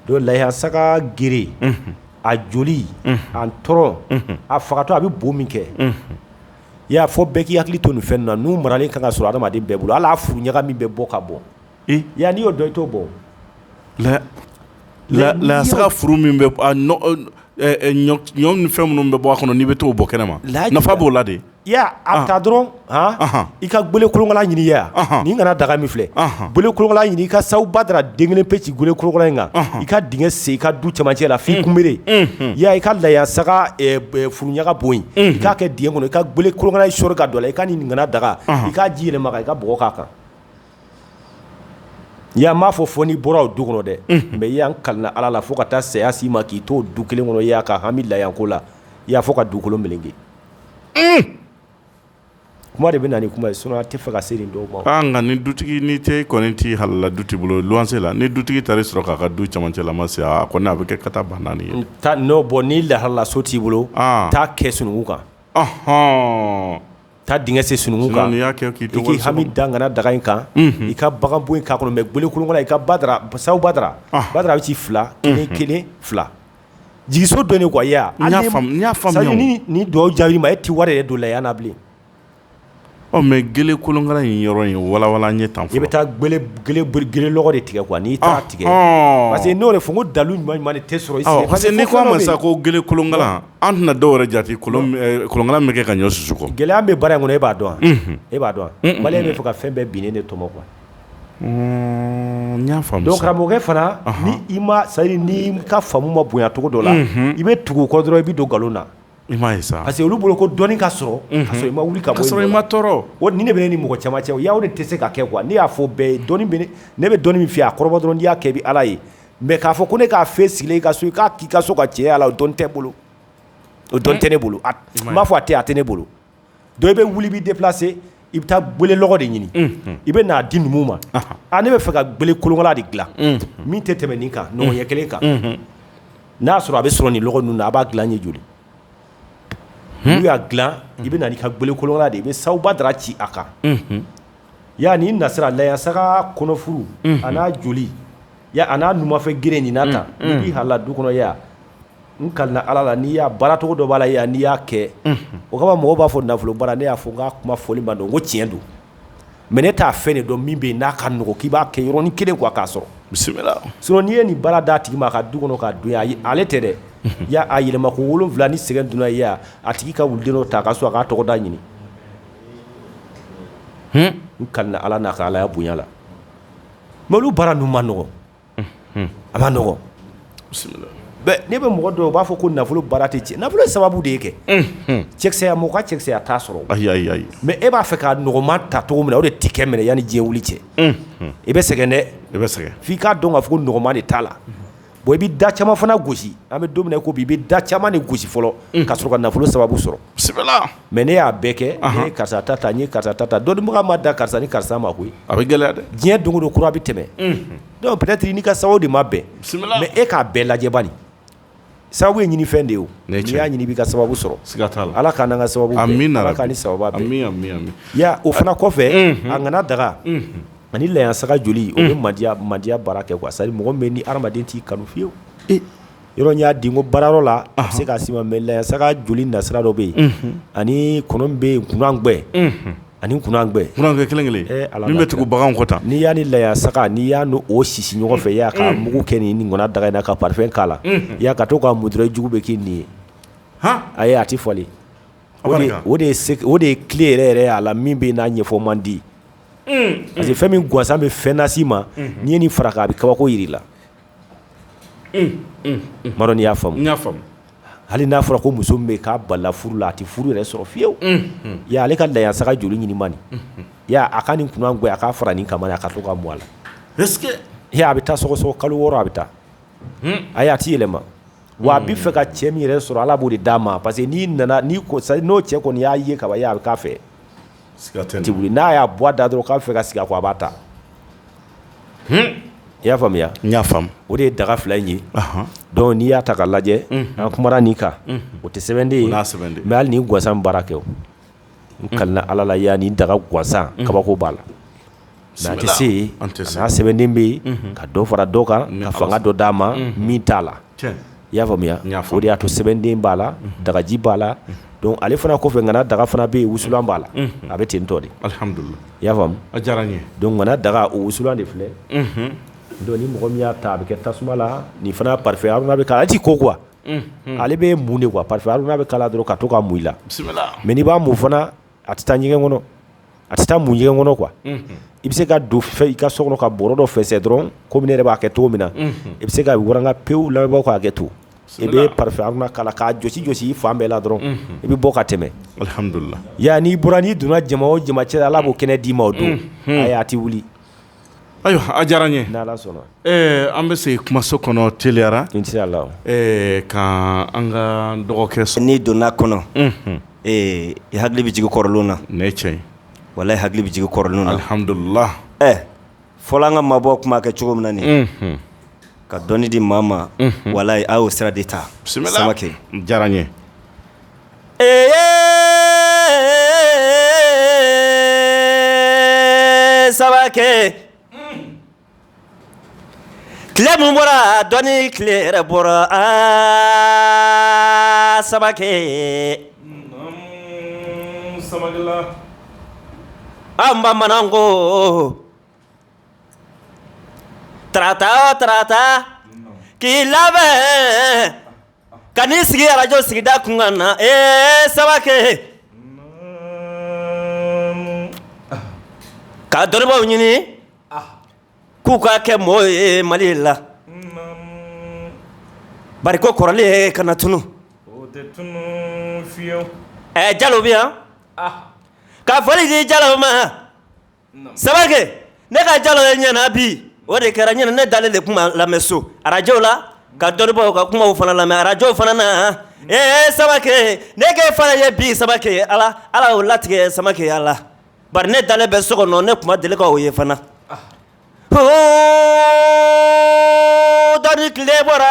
donc layasaga gere a joli a ntɔrɔn a fagatɔ a bɛ bo min kɛ i y'a fɔ bɛɛ k'i hakili to nin fɛn ninnu na n'u maralen ka kan ka sɔrɔ hadamaden bɛɛ bolo ala furu ɲaga min bɛ bɔ ka bɔ Ya n'i y'o dɔn i t'o bɔn la layasaga furu min bɛ ɲɔ fɛn minnu bɛ bɔ a kɔnɔ n'i bɛ taa o bɔn kɛnɛ ma la nafa b'o la de a ka dɔrɔn i ka gwele kolonkalan ɲini ani kana daga min filɛ n bolo kan ɲini i ka sawu badara den kelen pe ci gwele kolonkalan in kan i ka dingɛ sen i ka du camancɛ la fo kunbiri ya i ka layasaga furu ɲaga bo in k'a kɛ dingɛ kɔnɔ i ka gwele kolonkalan sɔrɔ ka don la i ka nin kana daga i k'a ji yɛlɛma i ka bɔ k'a kan Y'a m'a fɔ fɔ n'i bɔra o du kɔnɔ dɛ mɛ ya n kalila ala la fo ka taa saya se i ma k'i to du kelen kɔnɔ y'a ka hami l'argent ko la i y'a fɔ ka dugukolo kelen kɛ kuma de bɛ na kuma ye so tɛ faga ka se nin dɔw ma nka ni dutigi ni tɛ kɔni tɛ halala du bolo luwanse la ni dutigi taara sɔrɔ k'a ka du camancɛla ma se a kɔni a bɛ kɛ ka taa ban naani ye taa n' bɔ n'i halala so t'i bolo taa kɛ sunkun kan hɔn Taa dingɛ sen sunkun kan y'a kɛ k'i to hami dan kana daga in kan i ka bagan bo in k'a kɔnɔ mɛ gwele kolonkalan i ka ba sawu badara badara bɛ ci fila ni kelen fila jigiso dɔ nin gaya ni dɔw jaabi ma e tɛ wari ye don la n'a bilen ɔ mɛ gwele kolonkalan in yɔrɔ ye wawalan ɲɛ tan i bɛ taa gwele de tigɛ kuwa n'i taa tigɛ parce que n'o de fo ko dalilu ɲuman tɛ sɔrɔ parce que ne ko ma sa ko gwele kolonka An tɛna dɔw yɛrɛ jate kolonkalan min kɛ ka ɲɔ susu kɔ gɛlɛya bɛ baara in kɔnɔ e b'a dɔn e b'a dɔn baliya bɛ fɔ ka fɛn bɛɛ binnen de tɔmɔ kuwa n y'a dɔwkɛ fana i ma sayi n'i ka faamu ma bonyacogo dɔ la i bɛ tugu kɔ dɔrɔn i bɛ don nkalon na i ma sa parce que olu bolo ko dɔnni ka sɔrɔ i ma wuli ka sɔrɔ i ma tɔɔrɔ o ni ne bɛ ni mɔgɔ caman cɛ o de tɛ se ka kɛ kuwa ne y'a fɔ bɛɛ ye ne bɛ dɔnni min fɛ a kɔrɔ dɔrɔn y'a kɛ bɛ ala ye mɛ k'a fɔ ko ne k'a fɛ sigilen i ka so i k'a k'i ka so ka cɛ a la o dɔn tɛ bolo o dɔn tɛ ne bolo n b'a fɔ a tɛ a tɛ ne bolo donc i bɛ wuli b'i deplase i bɛ taa gwele lɔgɔ de ɲini i bɛ n'a di numu ma a ne b'a fɛ ka gwele kolonkala de dila min tɛ tɛmɛ nin kan nɔngɔn ɲɛ kelen kan n'a y'a sɔrɔ a bɛ sɔrɔ nin lɔgɔ ninnu na a b'a dila i ye joli N'u y'a dila i bɛ na n'i ka gwele kolonkala de i bɛ sawu badara ci a kan ya ni na a layasaga kɔnɔfuru a n'a joli a n'a numanfɛ gere nin na tan i halala du kɔnɔ ya n kalila ala la n'i y'a baaracogo dɔ b'a la yan n'i y'a kɛ o kama mɔgɔw b'a fɔ nafolo baara ne y'a fɔ n ka kuma fɔli ma don ko tiɲɛ don mɛ ne t'a fɛ de dɔ min bɛ yen n'a ka nɔgɔ k'i b'a kɛ yɔrɔnin kelen kuwa k'a sɔrɔ bisimila s n'i ye nin baara da tigi ma a ka du kɔnɔ ka don ale tɛ dɛ ya a yɛlɛma ko wolowula ni sɛgɛn dunya a tigi ka wuliden ta ka so a ka tɔgɔda ɲini n kalen ala n'a ka alaya bonya la mɛ olu baara ninnu man nɔgɔ a man nɔgɔ ne bɛ mɔgɔ dɔn u b'a fɔ ko nafolo baara tɛ cɛ nafolo sababu de ye kɛ cɛkisɛya mɔgɔ ka cɛkisɛya t'a sɔrɔ mɛ e b'a fɛ ka nɔgɔma ta cogo min na o de tɛ kɛ minɛ yan ni diɲɛ wuli cɛ i bɛ sɛgɛn dɛ i bɛ sɛgɛn f'i k'a dɔn k'a fɔ ko nɔgɔma de t'a la bon i bɛ da caman fana gosi an bɛ don min na ko bi i bɛ da caman de gosi fɔlɔ ka sɔrɔ ka nafolo sababu sɔrɔ mɛ ne y'a bɛɛ kɛ karisa ta ta karisa ta ta dɔnnibaga ma da karisa ni karisa ma koyi a bɛ gɛlɛya dɛ diɲɛ don don kura bɛ tɛmɛ dɔw peut-être i n'i ka sababu de ma bɛn mɛ e k'a bɛɛ lajɛ bani sababu ye ɲini fɛn de ye y'a ɲini' ka sababu sɔrɔ ala ka ka sababu o fana kɔfɛ a nana daga ani layisaga joli o bɛ madiya madiya baara kɛ sari mɔgɔ bɛ ni hadamaden t'i kanu fiyewu yɔrɔ y'a di ko baarayɔrɔ la a se ka si ma mɛ layisaga joli nasira dɔ bɛ yen ani bɛ yen kunangwɛ ani kunangwɛ kelen kelen ale bɛ tugu bagan kɔ tan n'i y'a ni layisaga n'i y'a don o susu ɲɔgɔn fɛ y'a ka mugu kɛ ni nin kɔnɔ daga na ka pafɛn k'a la y'a ka to ka mutura jugu bɛ k'i nin ye a ye a tɛ fɔ o de ye tile yɛrɛ yɛrɛ ye a la min bɛ n'a ɲɛfɔ man di parce que fɛn min gansan bɛ fɛn nasi ma n'i ye nin fara a bɛ kabako jira i la y'a faamu hali n'a fɔra ko muso bɛ ka balan furu la a tɛ furu yɛrɛ sɔrɔ fiyewu ale ka layisaga joli ɲini man a ka nin kun a k' fara nin kan a ka to ka bɔ a la a bɛ taa sɔsɔ kalo wɔɔrɔ a bɛ taa a a tɛ yɛlɛma wa a bɛ fɛ ka cɛ min yɛrɛ sɔrɔ ala b'o de d'a ma parce que n'i nana n'o cɛ kɔni y'a ye ka a bɛ k'a fɛ n'a y'a bɔ a da dɔrɔn k'a b'a fɛ ka sigi a ko a b'a ta i y'a faamuya y'a o de ye daga fila in ye dɔnku n'i y'a ta ka lajɛ an kumara nin kan o tɛ sɛbɛnden ye mɛ nin gansan bɛ baara kɛ n kalen ala la ya nin daga gansan kabako b'a la Mɛ a tɛ se an tɛ saya sɛbɛnden bɛ yen ka dɔ fara dɔ kan ka fanga dɔ d'a ma min t'a la i y'a faamuya o de y'a to sɛbɛnden b'a la dagaji b'a la ale fana kɔfɛ nana daga fana bɛ yen wusulan b'a la a bɛ ten tɔ de y'a faamuya daga o wusulan de filɛ don ni mɔgɔ min y'a ta a bɛ kɛ tasuma la ni fana pafɛn k'a la ji ko kuwa ale bɛ mun de kuwa pafɛn k'a la dɔrɔn ka to ka mun i la mɛ b'a mun fana a tɛ taa ɲɛgɛn kɔnɔ a tɛ taa mun ɲɛgɛn kɔnɔ k'i bɛ se ka don i ka so kɔnɔ ka bɔrɔ dɔ fɛsɛ dɔrɔn komi ne yɛrɛ b'a kɛ cogo min na i bɛ se ka wka pewuw la k'a kɛ to i bɛ kala k'a jɔsi jɔsi i fan bɛɛ la dɔrɔn i bɛ bɔ ka tɛmɛ alihamdulila yan n'i bɔra n'i donna jama o jama cɛ la ala b'o kɛnɛ d'i ma o don a' tɛ wuli ayiwa diyara n ye an bɛ se kumaso kɔnɔ teliyara ka an ka dɔgɔkɛ sɔn n' donna kɔnɔ i hakili bɛ jigin kɔrɔlen na ne cɛ wala hakili bɛ jigin kɔrɔlen nadula fɔlɔ an ka maabaw tun b'a kɛ cogo min na ka dɔnni di maa ma walayi aw sira de ta kɛ diyara n ye ɛɛ samakɛ tile min bɔra dɔnni tile yɛrɛ bɔra a samakɛ an bamanan ko tarata o tarata k'i labɛn ka n'i sigi arajo sigida kunkan na ee samakɛ ka dɔnnibaw ɲini k'u ka kɛ mɔgɔw ye mali la bari ko kɔrɔlen ye kana tunun ɛ jalo bɛ yan ka foli di jalo ma Samakɛ ne ka jalo ye ɲɛ na bi o de kɛra ɲɛ na ne dalen de tun b'a lamɛn so arajo la ka dɔnnibaw ka kuma fana lamɛn arajow fana na ee samakɛ ne k'e fana ye bi samakɛ ye ala ala o latigɛ samakɛ a la bari ne dalen bɛ so kɔnɔ ne tun ma deli k'aw ye fana dɔnni tile bɔra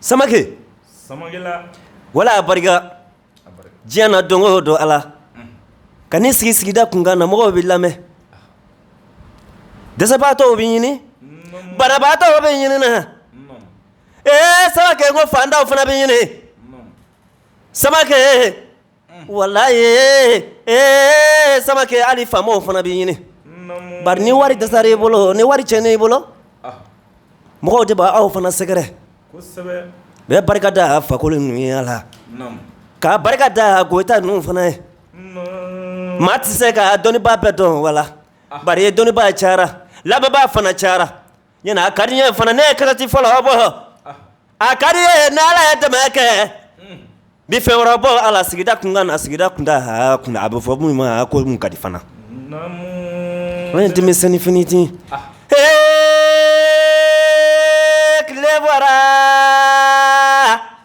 samakɛ wala a barika diɲɛ na don o don ala ka n'i sigi sigida kunkan na mɔgɔw b'i lamɛn dɛsɛbaatɔw b'i ɲini banabaatɔw b'i ɲini ee samakɛ ko faantanw fana b'i ɲini samakɛ walayi ee samakɛ hali faamaw fana b'i ɲini bari ni wari dɛsɛra i bolo ni wari cɛnna i bolo mɔgɔw de b' aw fana sɛgɛrɛ bɛɛ barika da a fakoli numu la ka barika da goyita ninnu fana ye maa tɛ se ka dɔnnibaa bɛɛ dɔn wala bari dɔnnibaa cayara lamɛnbaa fana cayara Ɲ a ka di n ye fana ne ye kasɛti fɔlɔ bɔ a ka di n ye ni ala ye dɛmɛ kɛ bi fɛn wɛrɛ bɔ ala sigida kunkan na sigida kun a bɛ fɔ min ma ko mun ka di fana o ye denmisɛnninni fti h tile bɔra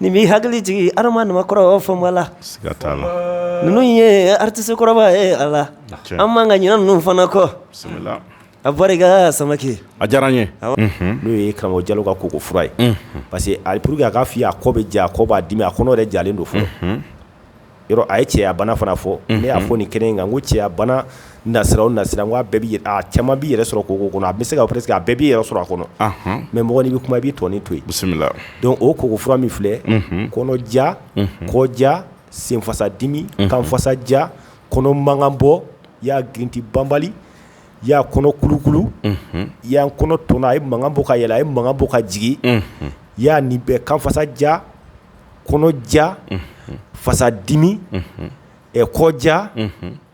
Nin b'i hakili jigin adama kɔrɔ fɔma la ninnu ye artiste kɔrɔba ye a la an man kan ka ɲinɛ ninnu fana kɔ a barika samakɛ a diyara n ye n'o ye karamɔgɔ jalo ka koko fura ye parce que a pour que a ka fɔ a kɔ bɛ ja a kɔ b'a dimi a kɔnɔ yɛrɛ jalen don fɔ yɔrɔ a ye cɛya bana fana fɔ ne y'a fɔ ni kelen in kan ko cɛya bana nasiraraw nasira bɛɛ bɛ a caman b'i yɛrɛ sɔrɔ koko kɔnɔ a bɛ se ka a bɛɛ b'i yɛrɛ sɔrɔ a kɔnɔ mɛ mɔgɔ bɛ kuma i bɛ dɔɔni to bisimila donc koko fura min filɛ kɔnɔ ja kɔ ja senfasa dimi kanfasa ja kɔnɔ mankan bɔ i y'a girinti banbali i y'a kɔnɔ kulukulu i y'a kɔnɔ tɔn a ye mankan bɔ ka yɛlɛ a ye mankan bɔ ka jigin i y'a nin bɛɛ kanfasa ja kɔnɔja fasadimi kɔja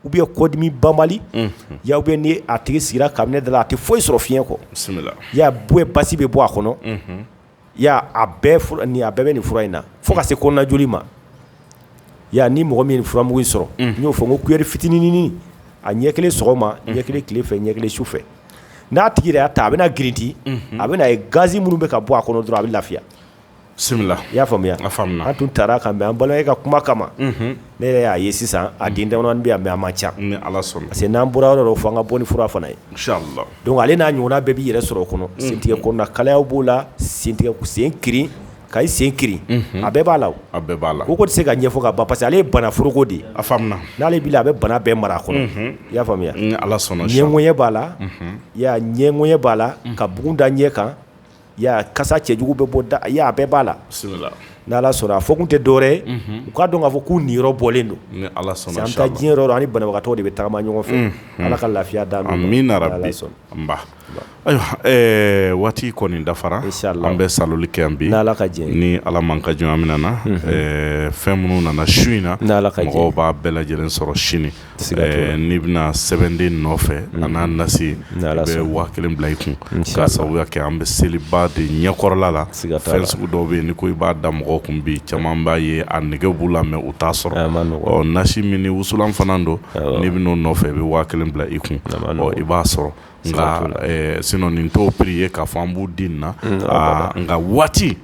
o bɛɛ kɔdimi banbali ya bɛ ni a tigi sigira ka ne da a tɛ foyi sɔrɔ fiɲɛ kɔ ya bɔ basi bɛ bɔ a kɔnɔ ya a bɛɛ nin a bɛɛ bɛ nin fura in na fo ka se kojli ma ya ni mɔgɔ min furamugu sɔrɔ n'o fɔ ko kuyɛri fitinin a ɲɛ kelen sɔgɔma ɲɛ kelen tile fɛ ɲɛ kelen su fɛ n'a tigi y'a ta a bɛna girinti a b'a ye gazi minnu bɛ ka bɔ a kɔnɔ dɔrɔn a bɛ lafiya bisimila i y'a faamuya a faamuya an tun taara ka mɛ an bala e ka kuma kama ne yɛrɛ y'a ye sisan a den da bɛ a man ca ni ala sɔnna parce que n'an bɔra yɔrɔ fo an ka bɔ ni fura fana ye donc ale n'a ɲɔgɔn bɛɛ b'i yɛrɛ sɔrɔ o kɔnɔ sentɛgɛ kɔnɔ kalaya b'o la sen sen ki ka sen ki a bɛɛ b'a la a bɛɛ b'a la ko tɛ se ka ɲɛfɔ ka ban parce que ale ye bana foroko de a n'ale bɛ a bɛ bana bɛɛ mara a kɔnɔ i y'a faamuya ala sɔnna ɲɛko b'a la ɲɛko b'a la ka bugun da ɲɛ kan Ya kasa cɛjugu bɛ bɔ da la a bɛɛ b'a la n' ala sɔnna a fɔ kun tɛ dɔwɛrɛ u k'a dɔn k'a fɔ k'u nin bɔlen don diɲɛ ani banabagatɔ de bɛ taama ɲɔgɔn fɛ ala ka lafiya d'an ma ayiwa waati kɔni dafara an bɛ sa kɛ bi ala ka jɛ ni ala man ka jɔn min na fɛn minnu nana su in na ala ka b'a bɛɛ lajɛlen sɔrɔ sini n'i bɛna sɛbɛnden nɔfɛ a n'a nasi i bɛ waa kelen bila i kun k'a sababu kɛ an bɛ seliba de ɲɛkɔrɔla la fɛn sugu dɔw bɛ yen ko i b'a da mɔgɔ kun bi caman b'a ye a nɛgɛ b'u la mɛ u t'a sɔrɔ nasi min ni wusulan fana don n'i bɛ n'o nɔfɛ i bɛ waa kelen bila i kun i b'a sɔrɔ nka sinon nin tɔw prix ye k'a fɔ an b'u di na nka waati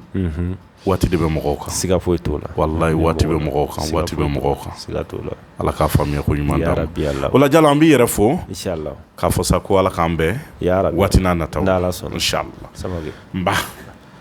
waati de bɛ mɔgɔw kan siga foyi t'o la walahi waati bɛ mɔgɔw kan waati bɛ mɔgɔw kan siga t'o la Ala ka faamuya ko ɲuman d'an ma yarabi yarabi o la Jalo an b'i yɛrɛ fo inchallah k'a fɔ sa ko Ala k'an bɛn yarabi waati nataw la n'Ala sɔnna inchallah samakɛ n ba